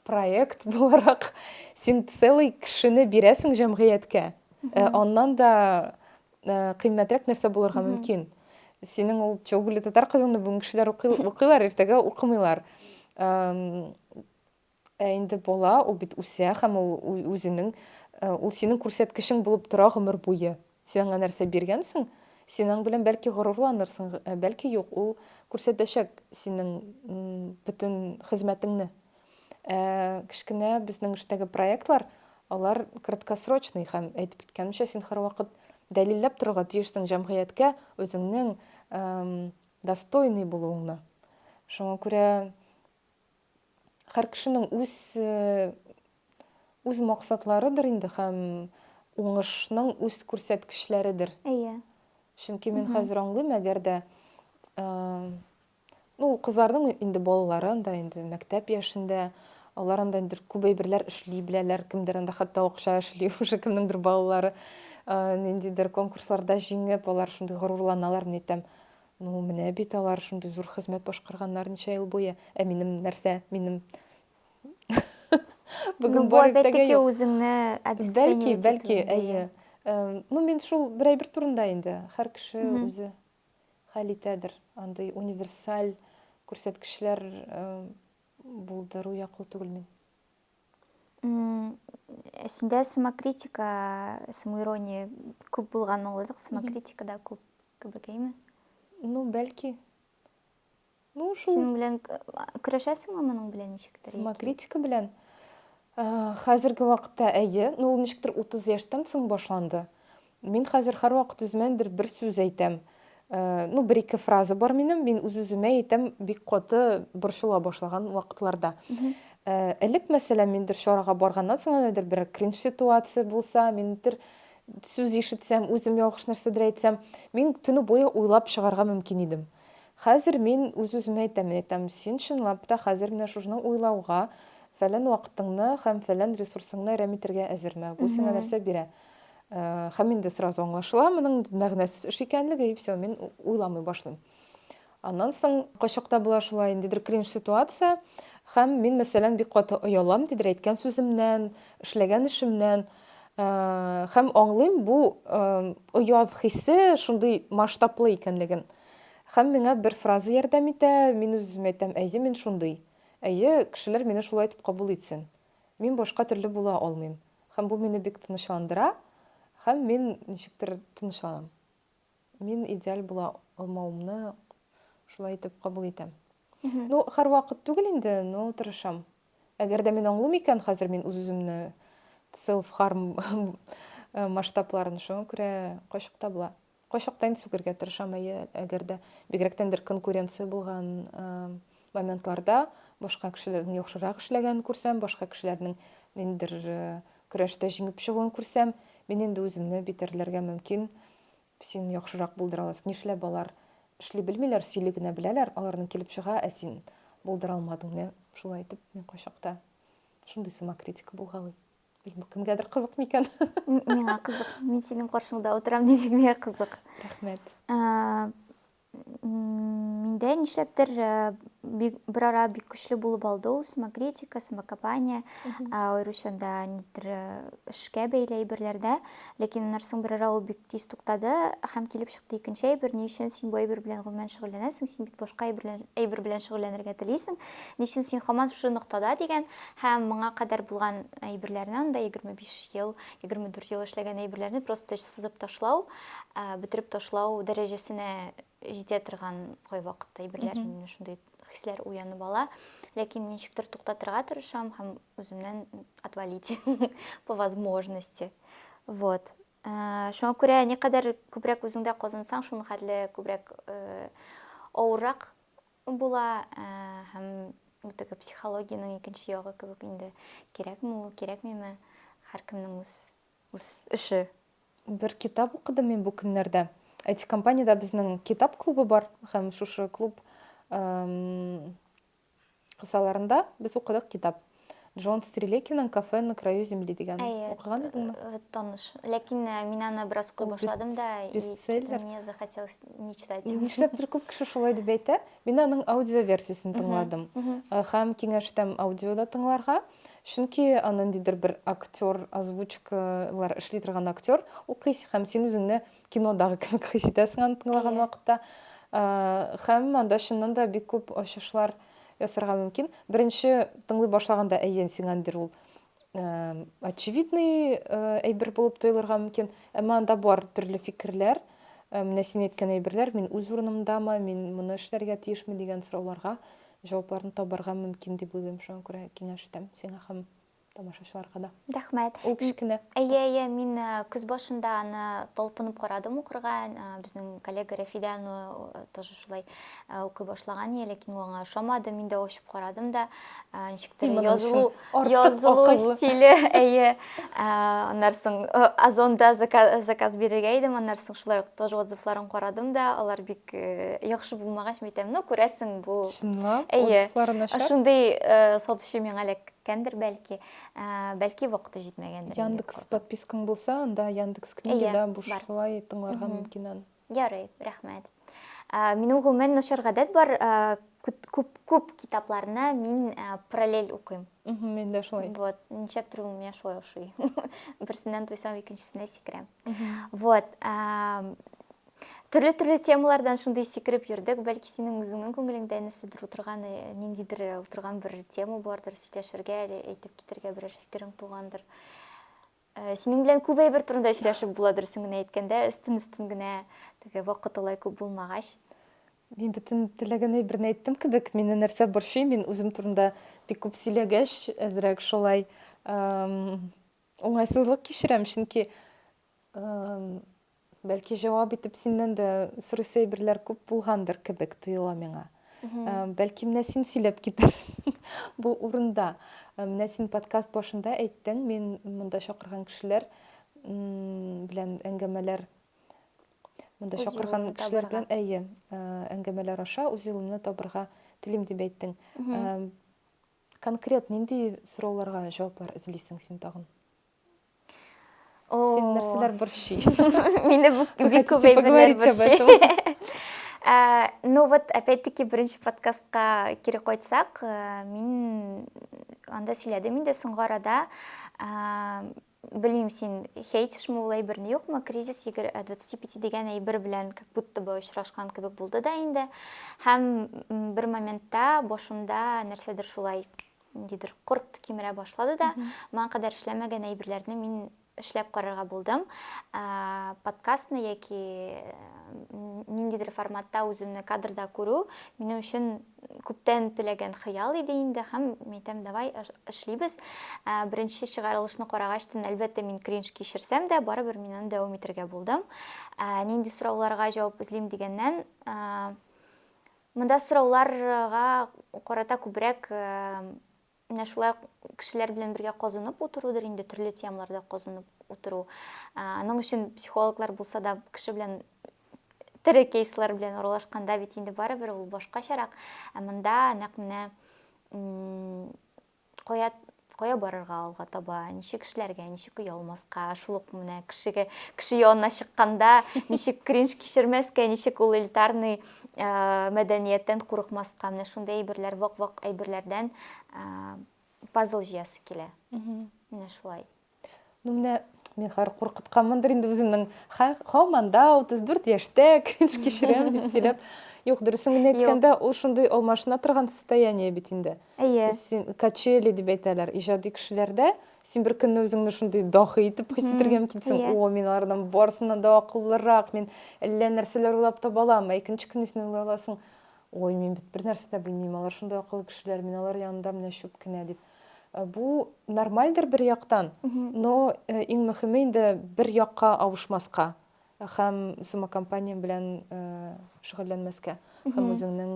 проект буларак син целый кешене бирәсең җәмгыятькә. Э, аннан да э, кыйммәтрәк нәрсә булырга мөмкин. Синең ул Чоугүле татар кызыңны бүген кешеләр укыйлар, иртәгә укымыйлар. Ә инде бала, ул бит үсә һәм ул үзенең, э, ул синең күрсәткечең булып тора гомер буе. Син аңа нәрсә биргәнсең? Син аң белән бәлки горурланырсың, ә бәлки юк, ул күрсәтәчәк синең бөтен хезмәтеңне. Ә кечкенә безнең эштәге проектлар, алар краткосрочный һәм, әйтеп киткәнемчә, син һәрвакыт дәлилләп торырга тиешсең җәмгыятькә үзеңнең достойный булуыңны. Шуңа күрә һәр кешенең үз үз максатларыдыр инде һәм уңышның үз күрсәткечләредер. Әйе. Чөнки мин хәзер аңлыйм, әгәр дә ну, кызларның инде балалары анда инде мәктәп яшендә, алар анда инде күп әйберләр эшли беләләр, кемдер анда хәтта акча эшли, уже кемнеңдер балалары ниндидер конкурсларда җиңеп, алар шундый горурланалар, мин әйтәм, Ну, менә бит алар шундый зур хезмәт башкарганнар ничә ел буе. Ә минем нәрсә? Минем Бүген ну, бар иртәгә юк. үзеңне Бәлки, бәлки, әйе. Ну, мин шул бер әйбер турында инде. Һәр кеше үзе хәл итәдер. Андый универсаль күрсәткечләр булдыру яклы түгел мин. Синдә самокритика, самоирония күп булган ул, самокритикада күп. Кебекәйме? Ну, бәлки. Ну, шул. Синең белән көрәшәсеңме моның белән ничектер? Самокритика белән. Хәзерге вакытта әйе, ну ул ничектер 30 яшьтән соң башланды. Мин хәзер һәрвакыт үземәндер бер сүз әйтәм. Ну, бер ике фраза бар минем, мин үз-үземә әйтәм, бик каты борчыла башлаган вакытларда. Элек мәсәлән, мендер чарага барганнан соң, нәдер бер кринж ситуация булса, мендер сүз ишетсәм, үзем ялгыш нәрсәдер әйтсәм, мин төне буе уйлап чыгарга мөмкин идем. Хәзер мин үз-үземә әйтәм, мин әйтәм, син чынлап та хәзер менә шушны уйлауга, фәлән вакытыңны һәм фәлән ресурсыңны әрәм итәргә әзерме? Бу сиңа нәрсә бирә? Һәм инде сразу аңлашыла, моның мәгънәсез эш икәнлеге, и все, мин уйламый башлыйм. Аннан соң кайчакта була шулай, ниндидер кринж ситуация, һәм мин, мәсәлән, бик каты оялам, ниндидер әйткән сүземнән, эшләгән эшемнән. Һәм аңлыйм, бу оят хисе шундый масштаблы икәнлеген. Һәм миңа бер фраза ярдәм итә, мин үземә әйтәм, әйе, мин шундый. Әйе, кешеләр мине шулай итеп кабул итсен. Мин башка төрле була алмыйм. Һәм бу мине бик тынычландыра, һәм мин ничектер тынычланам. мин идеаль була алмавымны шулай итеп кабул итәм. Ну, һәрвакыт түгел инде, но тырышам. Әгәр дә мин аңлыйм икән, хәзер мин үз-үземне self harm э, масштабларын, шуңа күрә кайчак та була. Кайчак та инде сүгергә тырышам, әйе, әгәр дә бигрәктән бер конкуренция булган э, Моментларда башка кешеләрдән яхшырак эшләгәнен күрсәм, башка кешеләрнең ниндидер көрәштә җиңеп чыгуын күрсәм, мин инде үземне битәрләргә мөмкин. Син яхшырак булдыра аласың. Нишләп алар эшли белмиләр, сөйли генә беләләр, аларның килеп чыга, ә син булдыра алмадың, нә? Шулай итеп, мин кайчакта шундый самокритика булгалый. Белмим, бу кемгәдер кызык микән? Миңа кызык. Мин синең каршыңда утырам, димәк, миңа кызык. Рәхмәт. Миндә нишләптер берара бик көчле булып алды ул самокритика, самокопание, аеруча да нидер эшкә бәйле әйберләрдә. Ләкин аннан соң берара ул бик тиз туктады һәм килеп чыкты икенче әйбер, ни өчен син бу әйбер белән гомумән шөгыльләнәсең, син бит башка әйбер белән шөгыльләнергә телисең, ни өчен син һаман шушы ноктада дигән һәм моңа кадәр булган әйберләрне анда 25 ел, 24 ел эшләгән әйберләрне просто сызып ташлау, бетереп ташлау дәрәҗәсенә җитә торган кайвакытта әйберләр мине шундый хисләр уянып ала ләкин ничектер туктатырга тырышам һәм үземнән отвалить по возможности вот э, шуңа күрә никадәр күбрәк үзеңдә казансаң шуның хәтле күбрәк э, авыррак була э, һәм теге психологиянең икенче ягы кебек инде кирәкме ул кирәкмиме һәркемнең үз үз эше. Бер китап укыдым мин бу көннәрдә. IT-компаниядә безнең китап клубы бар һәм шушы клуб кысаларында без укыдык китап. Джон Стрелекиның Кафе на краю земли дигән. Әйе. Укыган идеңме? Э, таныш. Ләкин э, мин аны бераз укый башладым да, и что-то мне захотелось не читать. Нишләптер күп кеше шулай дип әйтә. Мин аның аудио версиясен тыңладым. Э, һәм киңәш итәм аудиода тыңларга. Чөнки ниндидер бер актер, озвучкалар эшли торган актер укыйсы һәм син үзеңне кинодагы кебек хис итәсең аны тыңлаган вакытта. Һәм анда чыннан да бик күп ачышлар ясарга мөмкин. Беренче тыңлый башлаганда әйен сиңәндер ул очевидный әйбер булып тоелырга мөмкин, әмма анда бар төрле фикерләр, менә син әйткән әйберләр, мин үз урынымдамы, мин моны эшләргә тиешме дигән сорауларга Җавапларны табарга мөмкин дип уйлыйм, шуңа күрә киңәш итәм сиңа һәм тамашачыларга да. Рәхмәт. Ул кечкенә. Әйе, әйе, мин көз башында аны талпынып карадым укырга, безнең коллега Рәфидә аны тоже шулай укый башлаган иде, ләкин ул аңа ошамады, мин дә ачып карадым да, ничектер язылу, язылу стиле, әйе, аннан соң Озонда заказ бирергә идем, аннан соң шулай ук тоже отзывларын карадым да, алар бик яхшы булмагач мәйтәм ну күрәсең бу чынлап отзывлары начар шундый сатучы миңа эләккәндер бәлки бәлки вакыты җитмәгәндер яндекс подпискаң булса анда яндекс книгада бушлай тыңларга мөмкин аны ярый рәхмәт минем гомумән начар гадәт бар күп күп китапларны мин параллель укыйм мен дә шулай вот нишләп тору миңа шулай ошый берсеннән туйсам икенчесенә сикерәм вот Төрле-төрле темалардан шундый сикереп йөрдек. Бәлки синең үзеңнең күңелеңдә нәрсәдер утырган, э, ниндидер э, утырган бер тема бардыр, сөйләшергә әле әйтеп китергә берәр фикерең тугандыр. Э, синең белән күп әйбер турында сөйләшеп була дөресен генә әйткәндә, өстен-өстен генә теге вакыт алай күп булмагач. Мин бөтен теләгән әйберне әйттем кебек, мине нәрсә борчый, мин үзем турында бик күп сөйләгәч, әзрәк шулай уңайсызлык кичерәм, чөнки Бәлки җавап итеп синнән дә сорыйсы әйберләр күп булгандыр кебек тоела миңа. Ә, Бәлки менә син сөйләп китәрсең бу урында. Ә, Менә син подкаст башында әйттең, мин монда чакырган кешеләр м, белән әңгәмәләр монда Үз чакырган юлымны кешеләр табарга. белән әйе, ә, әңгәмәләр аша үз юлымны табарга телим дип әйттең. Ә, Конкрет нинди сорауларга җаваплар эзлисең син тагын? Сен нәрсәләр борчый? Мине бик күп әйберләр борчый. Э, ну вот, опять-таки, беренче подкастка кире кайтсак, э, мин анда сөйләдем инде соңгы арада. Э, белмим син хейтишме ул әйберне юкмы кризис двадцати пяти дигән әйбер белән как будто бы очрашкан кебек булды да инде һәм бер моментта башымда нәрсәдер шулай ниндидер корт кимерә башлады да, моңа кадәр эшләмәгән әйберләрне мин эшләп карарга булдым. Ә, подкастны яки э, ниндидер форматта үземне кадрда күрү минем өчен күптән теләгән хыял иде инде һәм әйтәм, давай эшлибез. Ә, беренче чыгарылышны карагач тын, әлбәттә, мин кринж кичерсәм дә, барыбер мин аны дәвам итәргә булдым. Ә, нинди сорауларга җавап эзлим дигәннән, ә, Монда сорауларга карата күбрәк менә шулай ук кешеләр белән бергә казынып утырудыр инде, төрле темаларда казынып утыру. Аның өчен психологлар булса да, кеше белән тере кейслар белән аралашканда бит инде барыбер ул башкачарак. Ә монда нәкъ менә Кая кая барырга алга таба, ничек эшләргә, ничек оялмаска, шул ук менә кешегә, кеше янына чыкканда, ничек кринж кичермәскә, ничек ул элитарный мәдәнияттән курыкмаска, менә шундый әйберләр, вак-вак әйберләрдән пазл җыясы килә. Менә шулай. Ну, менә мин хәзер куркытканмындыр инде үземнең. Һаман да 34 яшьтә кринж кичерәм дип сөйләп. Юк, дөресен генә әйткәндә, ул шундый алмашына торган состояние бит инде. Әйе. Син качели дип әйтәләр, иҗади кешеләрдә син бер көнне үзеңне шундый дахи итеп хис итәргә мөмкинсең. Иә. О, мин алардан барысыннан да акыллырак, мин әллә нәрсәләр уйлап таба алам. Ә икенче көнне син уйлый аласың, ой, мин бит бер нәрсә дә белмим, алар шундый акыллы кешеләр, мин алар янында менә чүп кенә дип. Э, бу нормальдер бер яктан но э, иң мөхиме инде бер якка авышмаска һәм самокомпания белән э, шөгыльләнмәскә һәм үзеңнең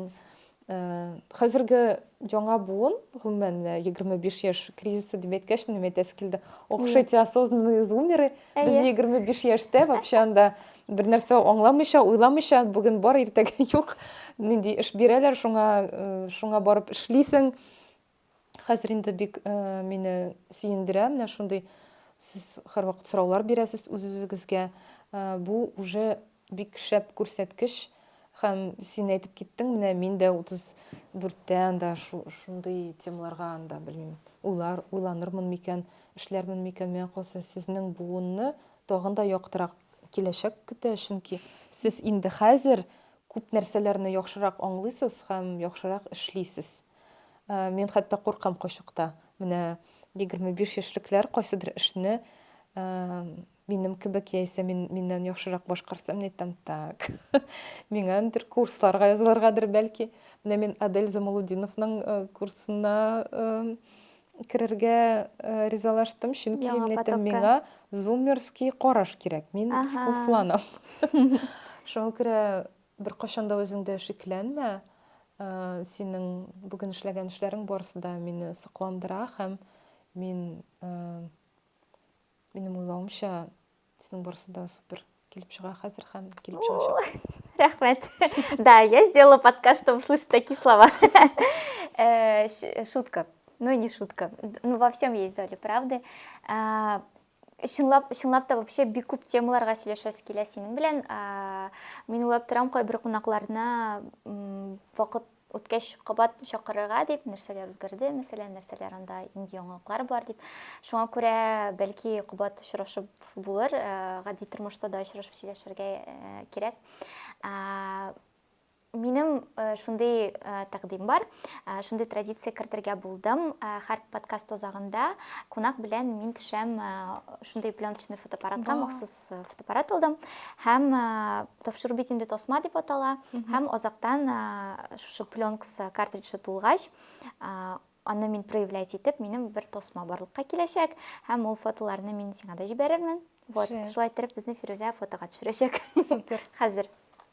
хәзерге яңа буын гомумән егерме биш яшь кризисы дип әйткәч минем әйтәсе килде ох эти осознанные зумеры без егерме биш яшьтә вообще анда бер нәрсә аңламыйча уйламыйча бүген бар иртәгә юк нинди эш бирәләр шуңа шуңа барып эшлисең Хәзер инде бик э, мине сөендерә менә шундый сез һәрвакыт сораулар бирәсез үз-үзегезгә. Э, бу уже бик шәп күрсәткеч һәм син әйтеп киттең, менә мин дә 34-тә анда шундый темаларга анда белмим, уйлар, уйланырмын микән, эшләрмен микән, миңа калса сезнең буынны тагын да яктырак киләчәк көтә, чөнки сез инде хәзер күп нәрсәләрне яхшырак аңлыйсыз һәм яхшырак эшлисез. Мин хәтта куркам кайчакта. Менә 25 яшьлекләр кайсыдыр эшне минем кебек яисә мин, миннән яхшырак башкарса, мин әйтәм, так, миңа андыр курсларга язылыргадыр бәлки. Менә мин Адель Замалудиновның э, курсына э, керергә э, ризалаштым, чөнки Яңа мин әйтәм, миңа зумерский караш кирәк. Мин скуфланам. Шуңа күрә Беркайчан да үзеңдә шикләнмә. Синең бүген эшләгән эшләрең барысы да мине сокландыра һәм мин минем уйлавымча синең барысы да супер килеп чыга хәзер һәм килеп чыгачак. Рәхмәт. Да, я сделала подкаст, чтобы слышать такие слова. Э, шутка. Ну, не шутка. Ну, во всем есть доля правды. А, Чынлап, чынлап та вообще бик күп темаларга сөйләшәсе килә синең белән. Мин уйлап торам, кайбер кунакларны вакыт үткәч кабат чакырырга дип, нәрсәләр үзгәрде, мәсәлән, нәрсәләр анда инде яңалыклар бар дип. Шуңа күрә бәлки кабат очрашып булыр, гади тормышта да очрашып сөйләшергә кирәк. Минем шундый тәкъдим бар, шундый традиция кертергә булдым. Һәр подкаст озагында кунак белән мин төшәм шундый пленочный фотоаппаратка, махсус фотоаппарат алдым. Һәм тапшыру бит инде тасма дип атала. Һәм озактан шушы пленкс картриджы тулгач, аны мин проявлять итеп, минем бер тасма барлыкка киләчәк. Һәм ул фотоларны мин сиңа да җибәрермен. Вот, шулай итеп безне Фирүзә фотога төшерәчәк. Супер. Хәзер.